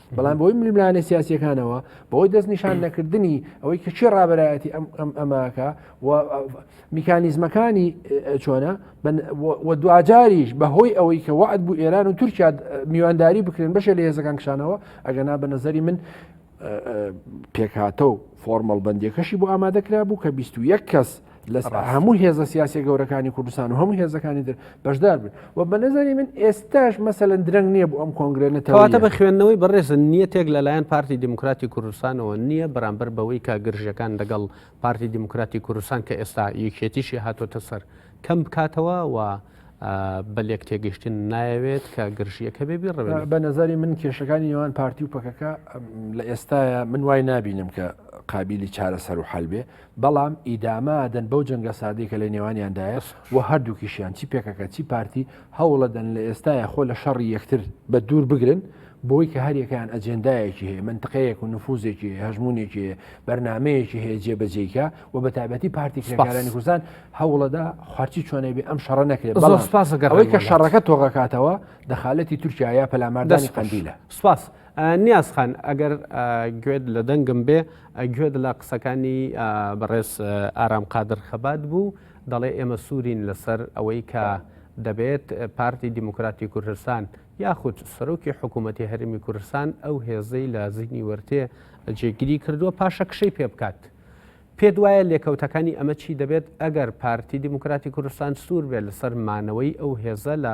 بەڵام بۆی ملیملانە سیاسەکانەوە بۆی دەست نیشان نەکردنی ئەوەی کە چی ڕابەرایەتی ئەم ئەم ئەماکە و میکانیزمەکانی چۆنە دوجاریش بە هۆی ئەوەی کە وعد بوو ئێران و تورکیا میوانداری بکرێن بەشێ لە هێزەکان کشانەوە ئەگەنا بە نظری من پێکهاتە و فۆرمەڵ بەندەکەشی بۆ ئامادە کرا بوو کە 21 کەس لە هەموو هێزە سیاسە گەورەکانی کوردستان و هەموو هێزەکانی در بەشدار بن و بە نظری من ئێستاش مەسەن درەنگ نییە بۆ ئەم کۆنگرێت نەتەواتە بە خوێندنەوەی بەڕێزن نیەتێک لەلایەن پارتی دیموکراتی کوردستانەوە نییە بەرامبەر بەوەی کە گرژەکان لەگەڵ پارتی دیموکراتی کوردستان کە ئێستا یەکێتیشی هاتۆتە سەر کەم بکاتەوە و بە لێک تێگەشتن نایەوێت کە گرژیەکە بێ بیڕەوێت بە نظری من کێشەکانی نێوان پارتی و پەکەکە لە ئێستاە من وای نبینم کە قابلی چارەسەر و حل بێ بەڵام ئیدامە ئەدەن بەو جەنگە سادەی کە لە نێوانیاندایە و هەردووکیشیان چی پەکەکە چی پارتی هەوڵەدەن لە ئێستایا خۆ لە شەڕی یەکتر بە دوور بگرن بۆی کە هەریەکەیان ئەجێندایەکی هەیە منتقەیەک و نفوزێکی هەیە هەژمونێکی هەیە بەرنمەیەکی هەیە جێبەجێیکە و بە تایبەتی پارتی کرێکارانی کوردستان هەوڵەدا خوارچی چۆنێ بێ ئەم شەڕە نەکرێت بەڵام سپاسەکەەوەی کە شەڕەکە تۆغەکاتەوە دەخالەتی تورکیا یا پەلاماردانی قندیلە سپاس نیازخان ئەگەر گوێت لە دەنگم بێ گوێت لە قسەکانی بەڕێز ئارام قادر خەبات بوو دەڵێ ئێمە سوورین لەسەر ئەوەی کە دەبێت پارتی دیموکراتی کوردستان یاخود سەرۆکی حکوومەتی هەرمی کوردستان ئەو هێزەی لە زیینی وەرتێ جێگیری کردووە پاشە کشەی پێ بکات. پێت وایە لێکەوتەکانی ئەمە چی دەبێت ئەگەر پارتی دیموکراتی کوردستان سوور بێت لەسەر مانەوەی ئەو هێزە لە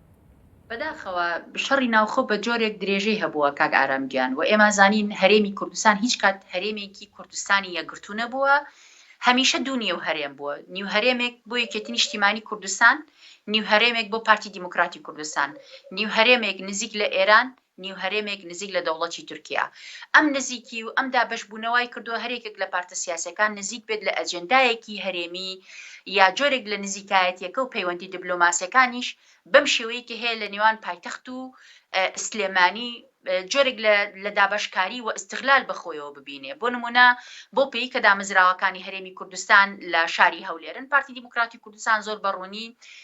بەداخەوە شەڕی ناوخۆ بە جۆرێک درێژەی هەبووە کاک ئارام گیان و ئێمە زانین هەرێمی کوردستان هیچ کات هەرێمێکی کوردستانی یەکگرتوو نەبووە هەمیشە دوو نیو هەرێم بووە نیو هەرێمێک بۆ یەکێتی نیشتیمانی کوردستان نیو هەرێمێک بۆ پارتی دیموکراتی کوردستان نیو هەرێمێک نزیک لە ئێران نیو هەرێمێک نزیک لە دەوڵەتی تورکیا. ئەم نزیکی و ئەم دابەش بوونە وای کردووە هەر یەکێک لە پارتە سیاسیەکان نزیک بێت لە ئەجێندایەکی هەرێمی یا جۆرێک لە نزیکایەتیەکە و پەیوەندی دبلۆماسیەکانیش بەم شێوەیەی کە هەیە لە نێوان پایتەخت و سلێمانی جۆرێک لە لە دابەشکاری و ئیستغلال بە خۆیەوە ببینێ بۆ نموونە بەو پێی کە دامەزراوەکانی هەرێمی کوردستان لە شاری هەولێرن پارتی دیموکراتی کوردستان زۆر بە ڕوونی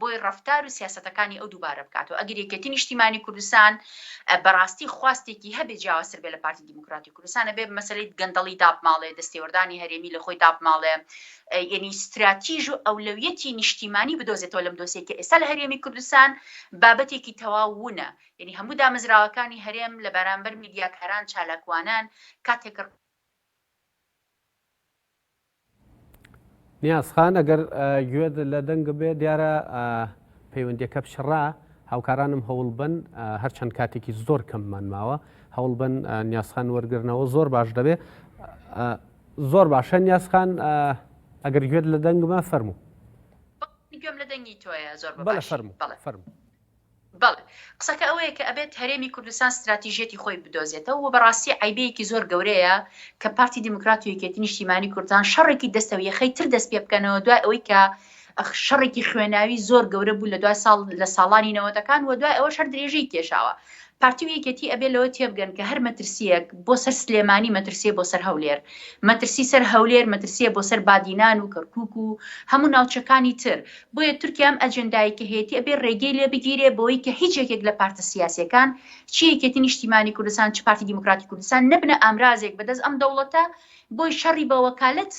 بۆی ڕەفتار و سیاسەتەکانی ئەو دووبارە بکاتەوە. ئەگەر یەکێتی نیشتیمانی کوردستان بەڕاستی خواستێکی هەبێ جیاوازتر بێ لە پارتی دیموکراتی کوردستان ئەبێ مەسەلەی گەندەڵی دابماڵێ، دەستێوەردانی هەرێمی لە خۆی دابماڵێ، یەنی ستراتیژ و ئەولەویەتی نیشتیمانی بدۆزێتەوە لەم دۆسیەی کە ئێستا لە هەرێمی کوردستان بابەتێکی تەواو وونە. یەنی هەموو دامەزراوەکانی هەرێم لە بەرامبەر میدیاکاران چالاکوانان کاتێک نیاز خان ئەگەر گوێت لە دەنگ بێ دیارە پەیوەندیەکە پچڕا هاوکارانم هەوڵ بن هەرچەند کاتێکی زۆر کەممان ماوە هەوڵ بن نیازخان وەرگرنەوە زۆر باش دەبێ زۆر باشە نیازخان ئەگەر گوێت لە دەنگمە فەرموو گوێم لە دەنگی تۆیە زۆر بەڵە فەرمو فەرمو بەڵێ قسەکە ئەوەیە کە ئەبێت هەرێمی کوردستان ستراتیژیەتی خۆی بدۆزێتەوە و بەڕاستی عەیبەیەکی زۆر گەورەیە کە پارتی دیموکرات و یەکێتی نیشتیمانی کوردستان شەڕێکی دەستە و یەخەی تر دەست پێ بکەنەوە دوای ئەوەی کە شەڕێکی خوێناوی زۆر گەورە بوو لە دوای ساڵ لە ساڵانی نەوەتەکان و دوای ئەوەش هەر درێژەی کێشاوە پارتی و یەکێتی ئەبێ لەوە تێبگەن کە هەر مەترسییەک بۆ سەر سلێمانی مەترسییە بۆ سەر هەولێر، مەترسی سەر هەولێر مەترسییە بۆ سەر بادینان و کەرکوک و هەموو ناوچەکانی تر، بۆیە تورکیا ئەم ئەجێندایەی کە هەیەتی ئەبێ رێگەی لێ بگیرێ بەوەی کە هیچ یەکێک لە پارتە سیاسییەکان چ یەکێتی نیشتیمانی کوردستان چ پارتی دیموکراتی کوردستان نەبنە ئامرازێک بەدەست ئەم دەوڵەتە بۆی شەڕی بە وەکالەت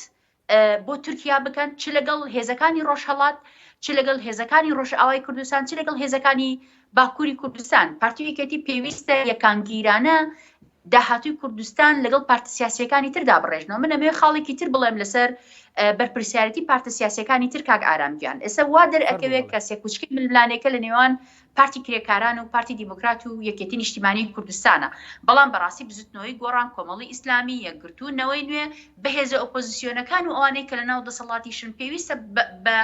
بۆ تورکیا بکەن چ لەگەڵ هێزەکانی ڕۆژهەڵات چ لەگەڵ هێزەکانی ڕۆژئاوای کوردستان چ لەگەڵ هێزەکانی باکووری کوردستان پارتی یەکێتی پێویستە یەکانگیرانە داهاتوی کوردستان لەگەڵ پارتە سیاسەکانی تردا بڕێژنەوە من ئەمێ خاڵێکی تر بڵێم لەسەر بەرپرسیارەتی پارتە سیاسەکانی تر کاک ئارامگیان ئێستا وا دەرئەکەوێت کە سێکوچکی ململانێکە لە نێوان پارتی کرێکاران و پارتی دیموکرات و یەکێتی نیشتیمانی کوردستانە، بەڵام بەڕاستی بزوتنەوەی گۆڕان، کۆمەڵی ئیسلامی، یەکگرتوو، نەوەی نوێ، بەهێزە ئۆپۆزسیۆنەکان و ئەوانەی کە لەناو دەسەڵاتیشن پێویستە بە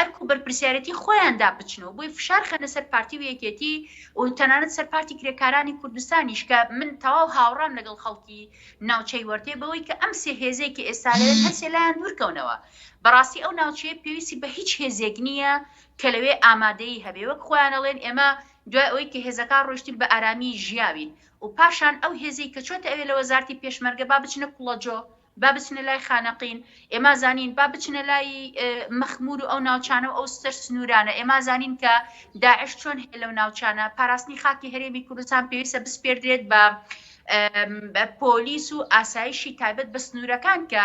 ئەرک و بەرپرسیارێتی خۆیاندا بچن و بۆی فشار خەنە سەر پارتی و یەکێتی و تەنانەت سەر پارتی کرێکارانی کوردستانیش کە من تەواو هاوڕام لەگەڵ خەڵکی ناوچەی وەرتێ بەوەی کە ئەم سێ هێزەی کە ئێستا لەوێن هەرسێ لایان دوورکەونەوە بەڕاستی ئەو ناوچەیە پێویستی بە هیچ هێزێک نییە کە لەوێ ئامادەیی هەبێ، وەک خۆیان ئەڵێن ئێمە دوای ئەوەی کە هێزەکان ڕۆیشتین بە ئارامی ژیاوین و پاشان ئەو هێزەی کە چۆتە ئەوێ لە وەزارتی پێشمەرگە با بچنە کوڵەجۆ، با بچنە لای خانەقین، ئێما زانین با بچنە لای مەخمور و ئەو ناوچانە و ئەو سەر سنوورانە، ئێما زانین کە داعش چۆن هەیە لەو ناوچانە، پاراستنی خاکی هەرێمی کوردستان پێویستە بسپێردرێت بە پۆلیس و ئاسایشی تایبەت بە سنوورەکان کە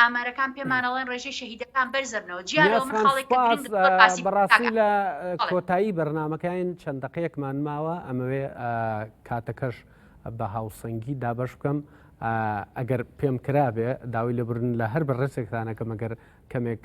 ئامارەکان پێمان ئەڵێن ڕێژەی شەهیدەکان بەرزەبنەوە جیا لەوە من خاڵێکە گرنگ بەڕاستی لە کۆتایی بەرنمەکەین چەند دقەیەکمان ماوە ئەمەوێ کاتەکەش بە هاوسەنگی دابش بکەم ئەگەر پێم کرابێ داوای لەبرن لە هەر بە ڕێسێکتانەکە مەگەر کەمێک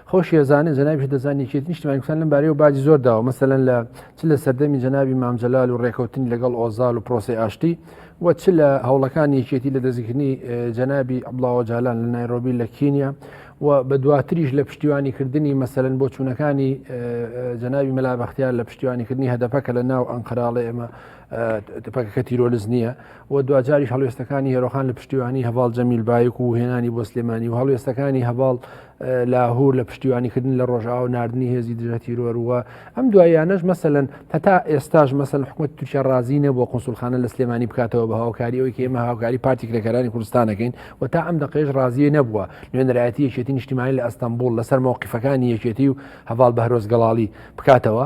خۆشی ئەزانێت جەنابیش دەزانی یەکێتی نیشتمانی کوردستان لەم بارەیەوە باجی زۆر داوە مەسەلەن لە چ لە سەردەمی جەنابی مام جەلال و ڕێکەوتنی لەگەڵ ئۆزال و پرۆسی ئاشتی و چ لە هەوڵەکانی یەکێتی لە دەستگرتنی جەنابی عبڵاوە جالان لە نایرۆبی لە کینیا و بە دواتریش لە پشتیوانی کردنی مەسەن بۆ چوونەکانی جەنابی مەلا بەختیار لە پشتیوانی کردنی هەدەپە کە لە ناو ئەنقراڵێ ئێمە پەکەکە تیرۆلز نییە و دواجاریش هەڵوێستەکانی هێرۆخان لە پشتیوانی هەواڵ جەمیل بایک و هێنانی بۆ سلێمانی و هەڵوێستەکانی هەواڵ لاهور لە پشتیوانیکردن لە ڕۆژاو نردنی هێزی دژە تیرۆروە ئەم دوایانەش مەسەن هەتا ئێستاش مەسەن حکوومەت تورکیا ڕازی نەبووە قسولخانە لە سلێمانی بکاتەوە بە هاوکاری ئەوی کە ئمە هاوکاری پارتی کرێکەکانی کوردستانەکەین و تا ئەم دەقێش ڕازیە نەبووە نوێنەرایەتی یەکێتی نیشتیمانی لە ئەستەمبول لەسەر مەوقیفەکانی یەکێتی و هەواڵ بەرۆز گەڵاڵی بکاتەوە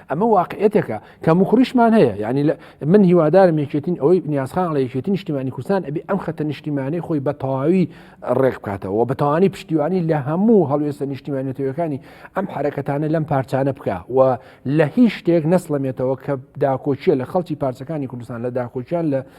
ئەمە واقعەتێکە کە مخوریشمان هەیە یعنی من هیوادارم یەکێتین ئەوەی نیازخان لە یەکێتی نیشتیمانی کوردستان ئەبی ئەم خەتە نیشتیمانی خۆی بە تەواوی ڕێک بکاتەوە بە تەوانی پشتیوانی لە هەموو هەڵوێستە نیشتیمانێتەوەەکانی ئەم حرەکەتانە لەم پارچانە بکە و لە هیچ شتێک نەسڵەمێتەوە کە داکۆچیە لە خەڵکی پارچەکانی کوردستان لە داکۆچیان لە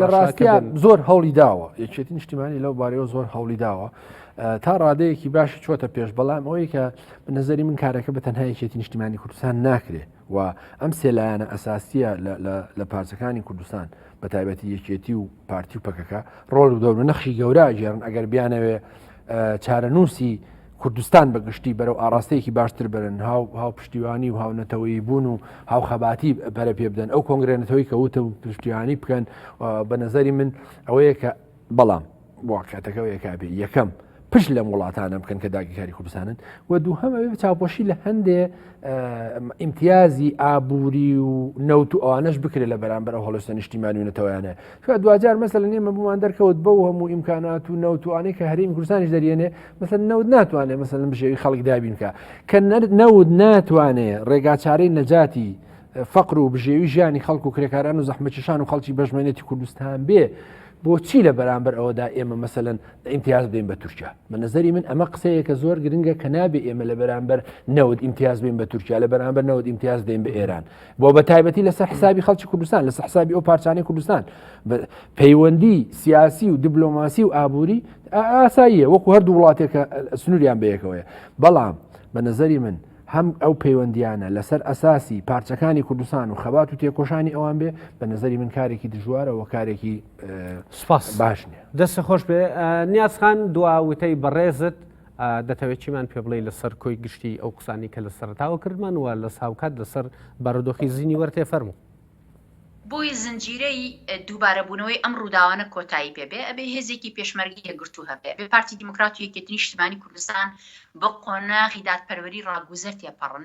لە ڕاستیا زۆر هەوڵی داوە یەکێتی نیشتیمانی لەو بارەوە زۆر هەوڵی داوە تا ڕادەیەکی باشی چۆتە پێش بەڵام ئەوەی کە نظری من کارەکە بە تەنها یەکێتی نیشتیمانی کوردستان ناکرێ و ئەم سێلایەنە ئەساسیە لە پارچەکانی کوردستان بە تایبەتی یەکێتی و پارتی و پەکەکە ڕۆڵ و دەور نەخشی گەورە گێرن ئەگەر بیانەوێ چارەنووسی کوردستان بە گشتی بەرەو ئاراستەیەکی باشتر برن هاو هاو پشتیوانی و هاونەتەوەی بوون و هاو خەباتی پەرە پێ بدەن ئەو کۆنگرێنەتەوەی کە وتە و پشتیوانی بکەن بە نظری من ئەوەیە کە بەڵام واقعەتەکەەوەی کابێ یەکەم پشت لەم وڵاتانە بکەن کە داگیرکاری کوردستانن و دووهەمەوێ چاوپۆشی لە هەندێ ئیمتیازی ئابووری و نەوت و ئەوانش بکرێت لە بەرامبەر ئەو هەڵستە نیشتیمانی و نەتەوەیانە دوجار مەسە لە نێمە بوومان دەرکەوت بەو هەموو ئیمکانات و نەوتوانێک کە هەریم گورسانیش دەریێنێ مثل نەوت ناتوانێت مثل بژێوی خەڵک دابینکە کە نەوت ناتوانێت ڕێگاچارەی نەجاتی فەقر و بژێوی ژیانی خەڵک و کرێکاران و زەحمەکیشان و خەڵکی بەژمێنێتی کوردستان بێ بۆچی لە بەرامبەر ئەوەدا ئێمە مەسەن ئیمتیاز بین بە تورکیا بە نظری من ئەمە قسەیە کە زۆر گرنگە کە نابێ ئێمە لە بەرامبەر نەوت ئیمتیاز بین بە تورکیا لە بەرامبەر نەوت ئیمتیاز دەین بە ئێران بۆ بە تایبەتی لەسەر حسابی خەڵکی کوردستان لەسەر حسابی ئەو پارچانەی کوردستان پەیوەندی سیاسی و دیبلۆماسی و ئابووری ئاساییە وەکو هەردوو وڵاتێکە سنووریان بەیەکەوەیە بەڵام بە نظری من هەم ئەو پەیوەندیانە لەسەر ئەساسی پارچەکانی کوردستان و خەبات و تێکۆشانی ئەوان بێ بە نظری من کارێکی دژوارەوە کارێکی سپاس باش نیە دەست خۆش بێ نیازخان دواوتەی بەڕێزت دەتەوێت چیمان پێ بڵێی لەسەر کۆی گشتی ئەو قسانی کە لە سەرتاوە کردمان وە لە ساوکات لەسەر بارودۆخی زینی وەرتێ فەرمو. بۆی زنجیرەی دووبارەبوونەوەی ئەم ڕووداوانە کۆتایی پێ بێ ئەبێ هێزێکی پێشمەرگەی یەکگرتوو هەبێ ئەبێ پارتی دیموکرات و یەکێتی نیشتمانی کوردستان بە قۆناغی دادپەروەری ڕاگوزەر تێپەڕن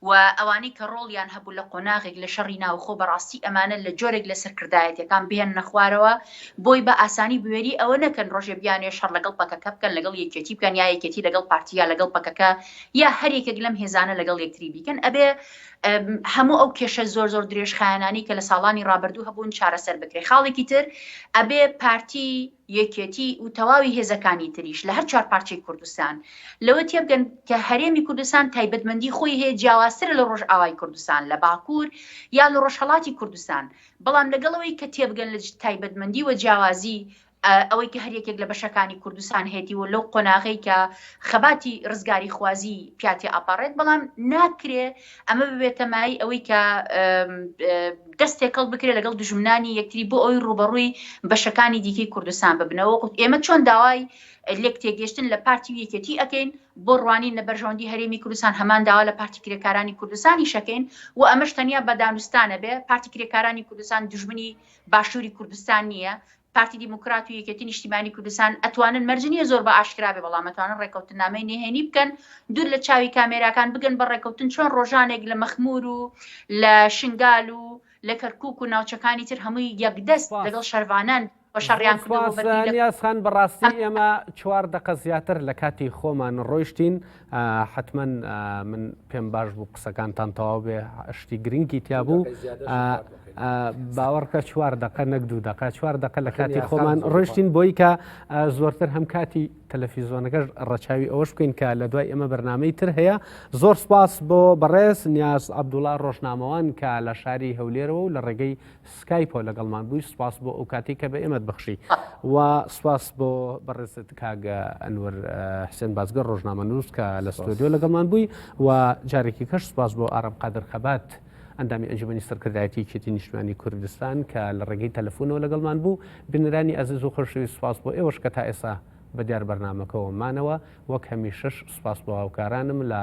و ئەوانەی کە ڕۆڵیان هەبوو لە قۆناغێک لە شەڕی ناوخۆ بەڕاستی ئەمانە لە جۆرێک لە سەرکردایەتیەکان بهێننە خوارەوە بۆی بە ئاسانی بوێری ئەوە نەکەن ڕۆژێ بیانوێ شەڕ لەگەڵ پەکەکە بکەن لەگەڵ یەکێتی بکەن یا یەکێتی لەگەڵ پارتی یا لەگەڵ پەکەکە یا هەر یەکێک لەم هێزانە لەگەڵ یەکتری بیکەن ئەبێ هەموو ئەو کێشە زۆر زۆر درێژخایەنانی کە لە ساڵانی ڕابردوو هەبوون چارەسەر بکرێ خاڵێکی تر ئەبێ پارتی یەکێتی و تەواوی هێزەکانی تریش لە هەر چوار پارچەی کوردستان، لەوە تێبگەن کە هەرێمی کوردستان تایبەتمەندی خۆی هەیە جیاوازترە لە ڕۆژئاوای کوردستان، لە باکوور یا لە ڕۆژهەڵاتی کوردستان، بەڵام لەگەڵ ئەوەی کە تێبگەن لە تایبەتمەندی و جیاوازی ئەوەی کە هەر یەکێک لە بەشەکانی کوردستان هەیەتی و لەو قۆناغەی کە خەباتی ڕزگاریخوازی پیاتی ئەپەڕێت، بەڵام ناکرێ ئەمە ببێتە مایەی ئەوەی کە دەست تێکەڵ بکرێت لەگەڵ دژمنانی یەکتری بۆ ئەوی ڕوبەڕووی بەشەکانی دیکەی کوردستان ببنەوە وەکوت ئێمە چۆن داوای لێک تێگەشتن لە پارتی و یەکێتی ئەەکەین بۆ ڕوانین لە بەرژەوەندی هەرێمی کوردستان هەمان داوا لە پارتی کرێکارانی کوردستانی شەکەین و ئەمەش تەنیا بە دانوستانە بێ پارتی کرێکارانی کوردستان دژمنی باشووری کوردستان نییە پارتی دیموکرات و یەکێتی نیشتیمانی کوردستان ئەتوانن مەرج نییە زۆر بە ئاشکرا بێ بەڵام ئەتوانن ڕێکەوتنامەی نهێنی بکەن دوور لە چاوی کامێراکان بگەن بە ڕێکەوتن چۆن ڕۆژانێک لە مەخمور و لە شنگال و لە کەرکوک و ناوچەکانی تر هەمووی یەک دەست لەگەڵ شەرڤانان بە شەڕیان کردووە بەردی لە. سپاس نیازخان بەڕاستی ئێمە چوار دەقە زیاتر لە کاتی خۆمان ڕۆیشتین حەتمەن من پێم باش بوو قسەکانتان تەواو بێ شتی گرنگی تیا بوو باوەڕکە چوار دقە نەک دوو دقە چوار دقە لە کاتی خۆمان ڕشتین بۆی کە زۆرتر هەم کاتی تەلەفیزۆنەکەش ڕەچاوی ئەوەش بکەین کە لە دوای ئەمە بەرنمەی تر هەیە زۆر سپاس بۆ بەڕێز نیاز عبدوڵا ڕۆژنامەوان کە لە شاری هەولێرەوە و لە ڕێگەی سکایپەوە لەگەڵمان بووی سوپاس بۆ ئەو کاتی کە بە ئێمەت بەخشی و سوپاس بۆ بەڕێزت کاگە ئەنوەر حسێن بازگە ڕۆژنامە نووس کە لە ستۆدیۆ لەگەڵمان بووی و جارێکی کەش سوپاس بۆ ئارام قادر خەبات. ئەندامی ئەنجومی سەرکردایەتی کێتی نیشتمانی کوردستان کە لە ڕێگەی تەلەفۆنەوە لەگەڵمان بوو بنرانی ئازیز و خۆشەوی سوپاس بۆ ئێوەش کە تا ئێسا بە دیار بەرنمەکەەوە مانەوە وەک هەمیشەش سوپاس بۆ هاوکارانم لە